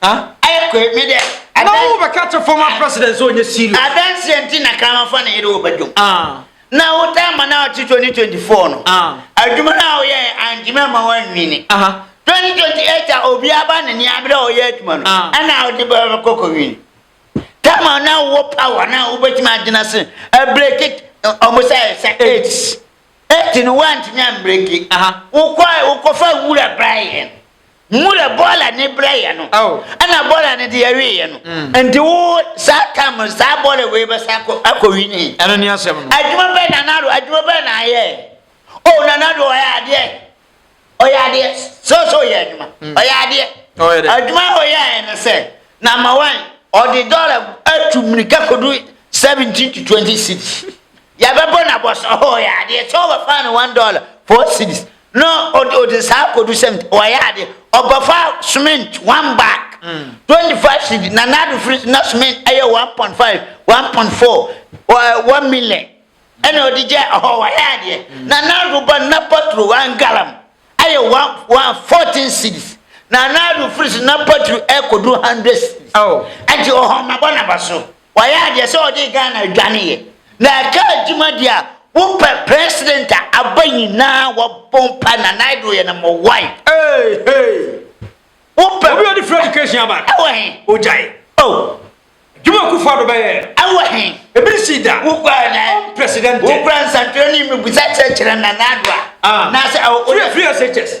ayɛ kɔɛ mi dɛ. na wo bɛka kyɛ former president sɛ ɔnyɛ serious. adanseɛ nti na kramanfoɔ na yɛde wo bɛdwom na wo taa ma na ɔte 2024 no adwuma no a woyɛ antumi ama woanwini 2028 a obi aba ne nea abere a ɔyɛ adwuma no ɛna wode bɛkɔ kɔwini tama na wowɔ power na wobɛtumi agyina se abreki ɔmo sɛ sɛ aids ɛti no woantumi ambreki wokɔ wokɔfa nwura bra yɛn Mmerɛ bɔɔla no brɛeɛ no, ɛna bɔɔla no deɛ weeɛ no. Nti wo saa tam no, saa bɔɔla wei bɛsan akɔ akɔ wini. Ɛno ne asɛm no. Adwuma bɛn Nana Addo, adwuma bɛn na ayɛ? Oh, Nana Addo ɔyɛ adeɛ. Ɔyɛ adeɛ. Sɛ ɔsɛ ɔyɛ adwuma. Ɔyɛ adeɛ. Ɔyɛ dɛ. Adwuma a ɔyɛɛ no sɛ, number one, ɔde dɔla atu mmirika kɔdu seventeen to twenty cedis. Yɛbɛbɔ no abɔso, oh, ɔyɛ adeɛ. Sɛ ɔbɛfaa no one dollar, four cedis. na ɔde ɔde saa akɔdu sɛm ɔayɛ ade ɔbɛfa cement one bag mm. twenty five cedi na n'ado firi na cement ɛyɛ one point five one point four one million ɛna ɔde gya ɛhɔ ɔayɛ adeɛ mm. na n'ado ba na patro one gallon ɛyɛ one one fourteen cedis na n'ado firi na patro ɛkɔdu hundred cedis ɛnti ɔhɔ nabɔ naba so. Wayɛ adeɛ sɛ ɔde Ghana adwaneeɛ na ɛka adwuma deɛ a wopɛ president a aba nyinaa wɔbɔ mpa na Nana Addo yɛ number one. Hey hey. Wopɛ. Obi ɔde free education aba. Ɛwɔ he. Ogyae. Oh. Juma Kufu Addo bɛyɛ. Ɛwɔ he. Ebi si da. Wokura na. President. Wokura nsantwerɛ ne mmibusa kyerɛkyerɛ Nana Addo a. Ah. Na sɛ. Free free SHS.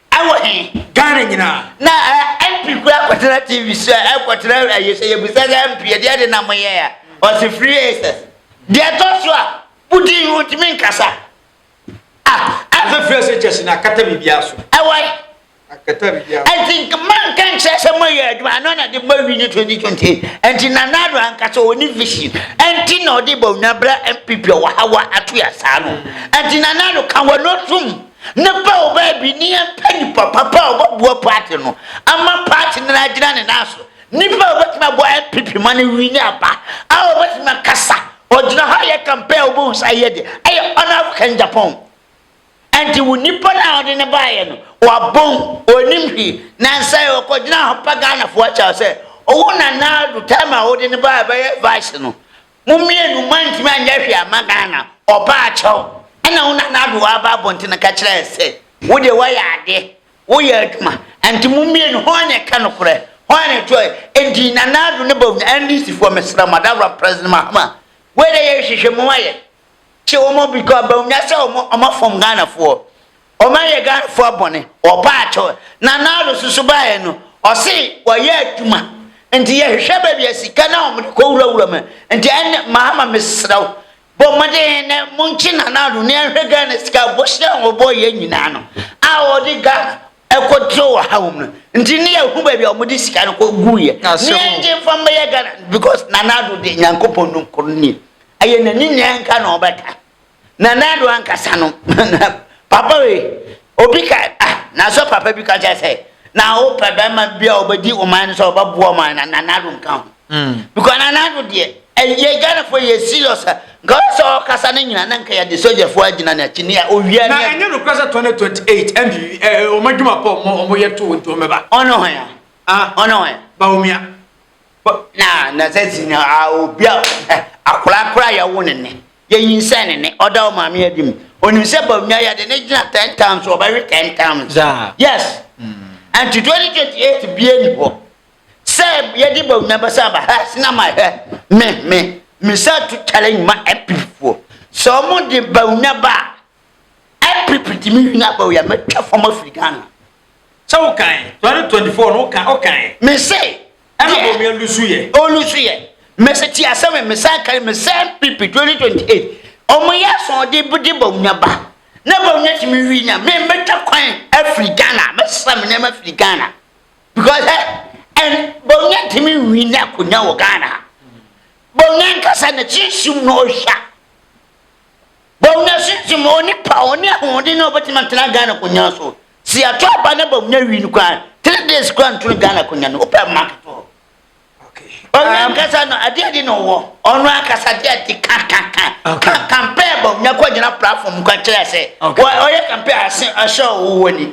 Ɛwɔ he? Ghana nyinaa. Na eh, MP kura kɔtena TV so a, ɛkɔtena eh, ɛyɛ sɛ yɛbisa sɛ MP ɛdeɛ de na moyɛ a, ɔse free access. Deɛ ɛtɔ so a, wodi yi wontumi nkasa. Ah, Ɛfɛ free access kyɛ se na akata biribiara so. Ɛwɔ he? Akata biribiara so. Ɛnti manka nkyerɛ sɛ moyɛ adwuma, ano na de ma wi ne 2020. Ɛnti Nana Addo ankasa ɔni vision, ɛnti na ɔde bɔ nua bra MPP a ɔwɔ ha wa ato yɛ saa no. Ɛnti Nana Addo ka wano tom. Ne ba ɔbaa bi ne yɛn pɛ nipa papa a ɔbɛboa paati no ama paati no agyina ne nan so. Nipa a ɔbɛtumi abɔ NPP ma no wi ne aba a ɔbɛtumi akasa ɔgyina hɔ ayɛ kampɛn a ɔbɛhu sɛ ayɛ de ayɛ Honorable Ken Agyapong. Ɛnti wo nipa no a ɔde ne baayɛ no wabom ɔnim hwi na nsɛ ɔkɔgyina hɔ pa Ghanafoɔ akyɛw sɛ ɔwo Nana Addo time a wode ne baayɛ bɛyɛ vice no Mo mmienu moantumi anyɛ hwee amma Ghana, ɔbaa kyɛw. Ɛna wo Nana Addo aba abɔntene ka kyerɛɛ sɛ, wo deɛ woayɛ adeɛ, woyɛ adwuma, ɛnti mo mmienu hwan na ɛka nokorɛ, hwan na ɛtoɔ, ɛnti Nana Addo ne Bawumia, NDC foɔ mesrɛ mo, Adawura President Mahama, wei deɛ yɛ nhwehwɛmu ayɛ, kye wɔn, because Bawumia sɛ wɔn afɔm Ghana foɔ, Ɔma yɛ Ghana foɔ bɔne ɔbaa kyɛw na Nado so so baeɛ no ɔse wayɛ adwuma nti yɛhwehwɛ baabi a sika no a wɔde kɔ wura wura mu nti ɛnne Mahama mesrɛ wo bɔ mmɔden na monkye Nana Addo na yɛnhwɛ Ghana sika bohyɛ a wɔbɔ yɛ nyinaa no a wɔde Ghana ɛkɔ tro wɔ ha wɔ mu no nti ne yɛhu baabi a wɔde sika no kɔ gu yɛ na yɛngye mfa mbɛyɛ Ghana because Nana Addo de Nyankopɔn no nkoro nie ɛyɛ n'ani nea ɛnka na ɔbɛka Nana Addo ankasa no, papa wei, obi ka, ah, nanso papa bi ka kyerɛ sɛ, na wopɛ bɛrima bi a ɔbɛdi ɔman no sɛ ɔbɛboa ɔman na Nana Addo nka ho. Mm. Because Nana Addo deɛ, ɛyɛ Ghanafoɔ yɛ serious a, nka ɔyɛ sɛ ɔkasa no nyina na nka yɛde sogyafoɔ agyina no akyi ne a owia ne. Na ɛnyɛ nokorɛ sɛ 2028 ɛnde wɔn adwuma pɔ wɔn wɔn yɛ to wɔn nti wɔn bɛba. Ɔno hɔn a. Ah. Ɔno hɔn. Bawumia. Na na sɛ si na obi a akora akora yɛ wo ne ne. Yɛnyinsɛn ne ne, ɔda wo maame adi mu. Onim sɛ Bawumia yɛde ne gyina ten times so ɔbɛwe ten times. Saa. Yes. Nti 2028 bia ni hɔ sɛ yɛde Bawumia bɛsa aba hɛ sena ma hɛ me me me sa tu challenge ma MPP foɔ sɛ ɔmo de Bawumia ba a NPP ti me nua Bawia mɛtwa fam afiri Ghana. Sɛ wo kan 2024 no wo kan wo kan. Me se. Ɛna bɔ mia lusu yɛ. O lusu yɛ. Me se ti asɛm me san kan me sɛ NPP 2028 ɔmo yɛ asɔɔde bde Bawia ba na Bawia ti me wi nya me mɛtwa kwan afiri Ghana mɛsesa me nɛɛma afiri Ghana because ɛ ɛn Bawia ti me wi nya akonya wɔ Ghana Bawia nkasa na kyi nsum na ɔhwa Bawumia sunsum no ɔnni paw, ɔnni ahoɔden a ɔbɛtumi atena Ghana konyan so. Sɛ yɛato aba na Bawumia win koraa a, three days koraa nto no Ghana konyan no, wopɛ mark to hɔ. Ɔno ankasa no, adeɛ adi na ɔwɔ. Ɔno ankasa adeɛ adi ka ka ka. Ka kampɛɛ Bawumia kɔ gyina platform kɔ kyerɛ sɛ ɔyɛ kampɛɛ ase ahyɛ ɔwɔ wɔ ni.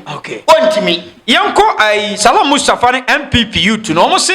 Ɔntumi. Yɛnkɔ ayi Salam Mustafa ne MPP youth no, wɔn se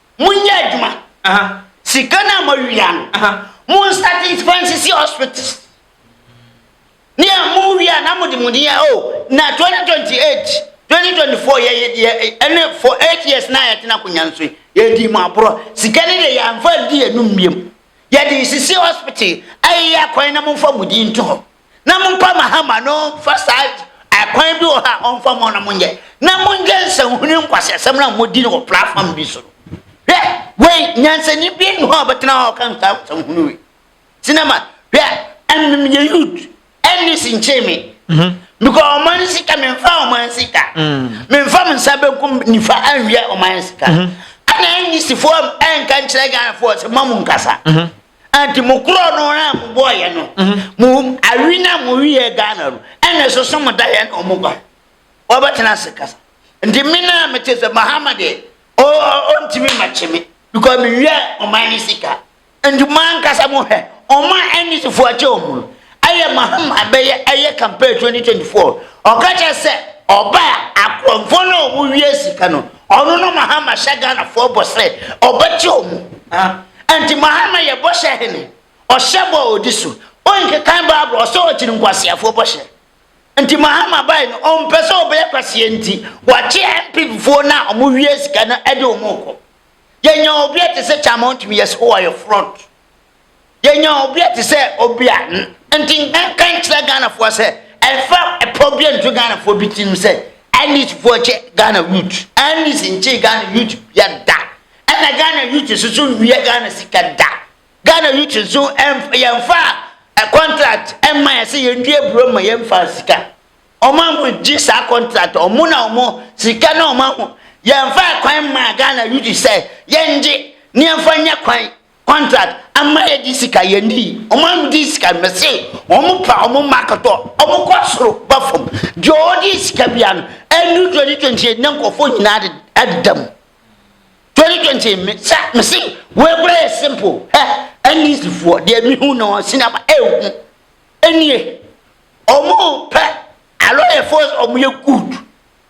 Monyɛ adwuma. Sika no a moawia no, monstate mfa nsisi hospitals. Nea mowie a na mode mo din a oh na 2028, 2024 yɛ yɛ ɛne for eight years na yɛtena akonnwa no so yi yɛdii mo aborɔ. Sika no deɛ yɛamfa ndi yɛn nom biom. Yɛde sisi hospital ayeyɛ akwan na momfa mo din nto hɔ. na mompa Mahama no mfa saa akwan bi wɔ hɔ a ɔmfa mɔ na monyɛ na monyɛ nsɛnhunu nkwaseasɛm no a modi no wɔ platform bi so no hwɛ wei nyansani bi nni hɔ a ɔbɛtena hɔ a ɔka nsa nsɛnhunu wei sinema hwɛ ɛmem yɛ youth ɛnne si nkyee me mhm. because ɔman sika memfa ɔman sika mm. memfa me nsa bɛnkum nifa anwia ɔman sika mhm. ɛna ɛnyisifoɔ ɛnka nkyerɛ ghanafoɔ sɛ ma mu nkasa mhm. Anti mo korɔ no a mo bɔ yɛ no mo awi na mo wi yɛ Ghana no ɛna ɛsoso mo da yɛ na ɔmo ba ɔbɛ tena ase kasa nti me na me te sɛ Mahama deɛ o o ntumi ma kye me because me wi yɛ ɔman ne sika nti mo ankasa mo hwɛ ɔmo a ɛne sifo akyɛ ɔmo no ɛyɛ Mahama bɛyɛ ɛyɛ campaign 2024 ɔka kyɛ sɛ ɔba a akɔnfo na ɔmo wi yɛ sika no Ɔno na Mahama hyɛ Ghanafoɔ bɔ sɛ ɔbɛgye ɔmo. Ɛnti Mahama yɛ bɔhyɛ hene, ɔhyɛ bɔ a ɔdi so. Ɔnkekan Bible, ɔsɛ ɔkyere nkwaseafoɔ bɔhyɛ. Nti Mahama bae no, ɔmpɛ sɛ ɔbɛyɛ kwasea nti, wakye NPP foɔ no a ɔmo wia sika no de ɔmo rekɔ. Yɛnyaa obi a te sɛ Kyama ɔntumi yɛ sɛ, oh, ayɛ fraud. yɛnya obi a te sɛ obi a nti nka nkyerɛ ghanafoɔ sɛ ɛfa ɛpɔ bi nto ghanafoɔ bi tirim sɛ ndcfoɔ kyɛ ghana youth ndc nkyee ghana youth bia da ɛna ghana youth nso so nwia ghana sika da ghana youth nso yɛmfa contract ɛma yɛ sɛ yɛndua buro ma yɛmfa sika ɔma mo gye saa contract ɔmo na ɔmo sika na ɔma mo yɛmfa kwan ma ghana youth sɛ yɛngye ne yɛmfa nyɛ kwan contract ama yɛ di sika yɛ ni wɔn a wɔn di sika mɛsi wɔn pa wɔn ma akɔtɔ wɔn kɔ soro ba fam deɛ ɔdi sika bia no ɛnu twenty twenty eight ne nkɔfo nyinaa de ɛdeda mu twenty twenty mi sa mɛsi wɔn ekura yɛ simple ɛ ɛni sifoɔ deɛ mi hu na wɔn si na ma ɛhu ɛnie wɔn pɛ alɔyɛfoɔ wɔn yɛ good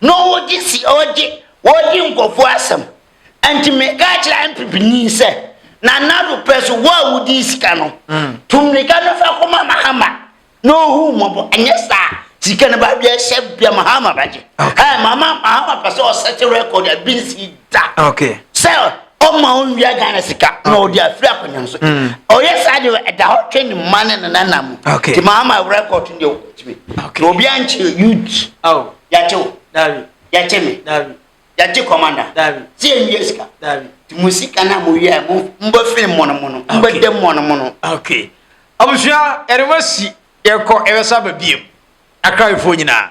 na ɔregye si ɔregye ɔredi nkurɔfoɔ asɛm nti mekaa kyerɛ MPP ni sɛ Nana Addo pɛ so wo a wodii sika no tu mmirika no fa kɔma Mahama na ɔhu mmɔbɔ ɛnyɛ saa sika no ba bia hyɛ bia Mahama bɛgye hɛɛ Mahama Mahama pɛ sɛ ɔsɛte record a binsi da sɛ ɔma ɔnwia ghana sika na ɔde afiri akonnwa so mm. ɔyɛ saa deɛ ɛda hɔ twɛ ne mma ne nenana mu nti maama awura kɔɔto deɛ ɔtumi na obi ankyerɛ youth yɛakye wo yɛakye me yɛagye kɔmanda sɛ ɛnwia sika nti mo sika no a mowia mobɛfiri mmɔnomono mobɛda mmɔnomono abusua yɛde ma si yɛkɔ ɛbɛsa ba biam akrawefoɔ nyinaa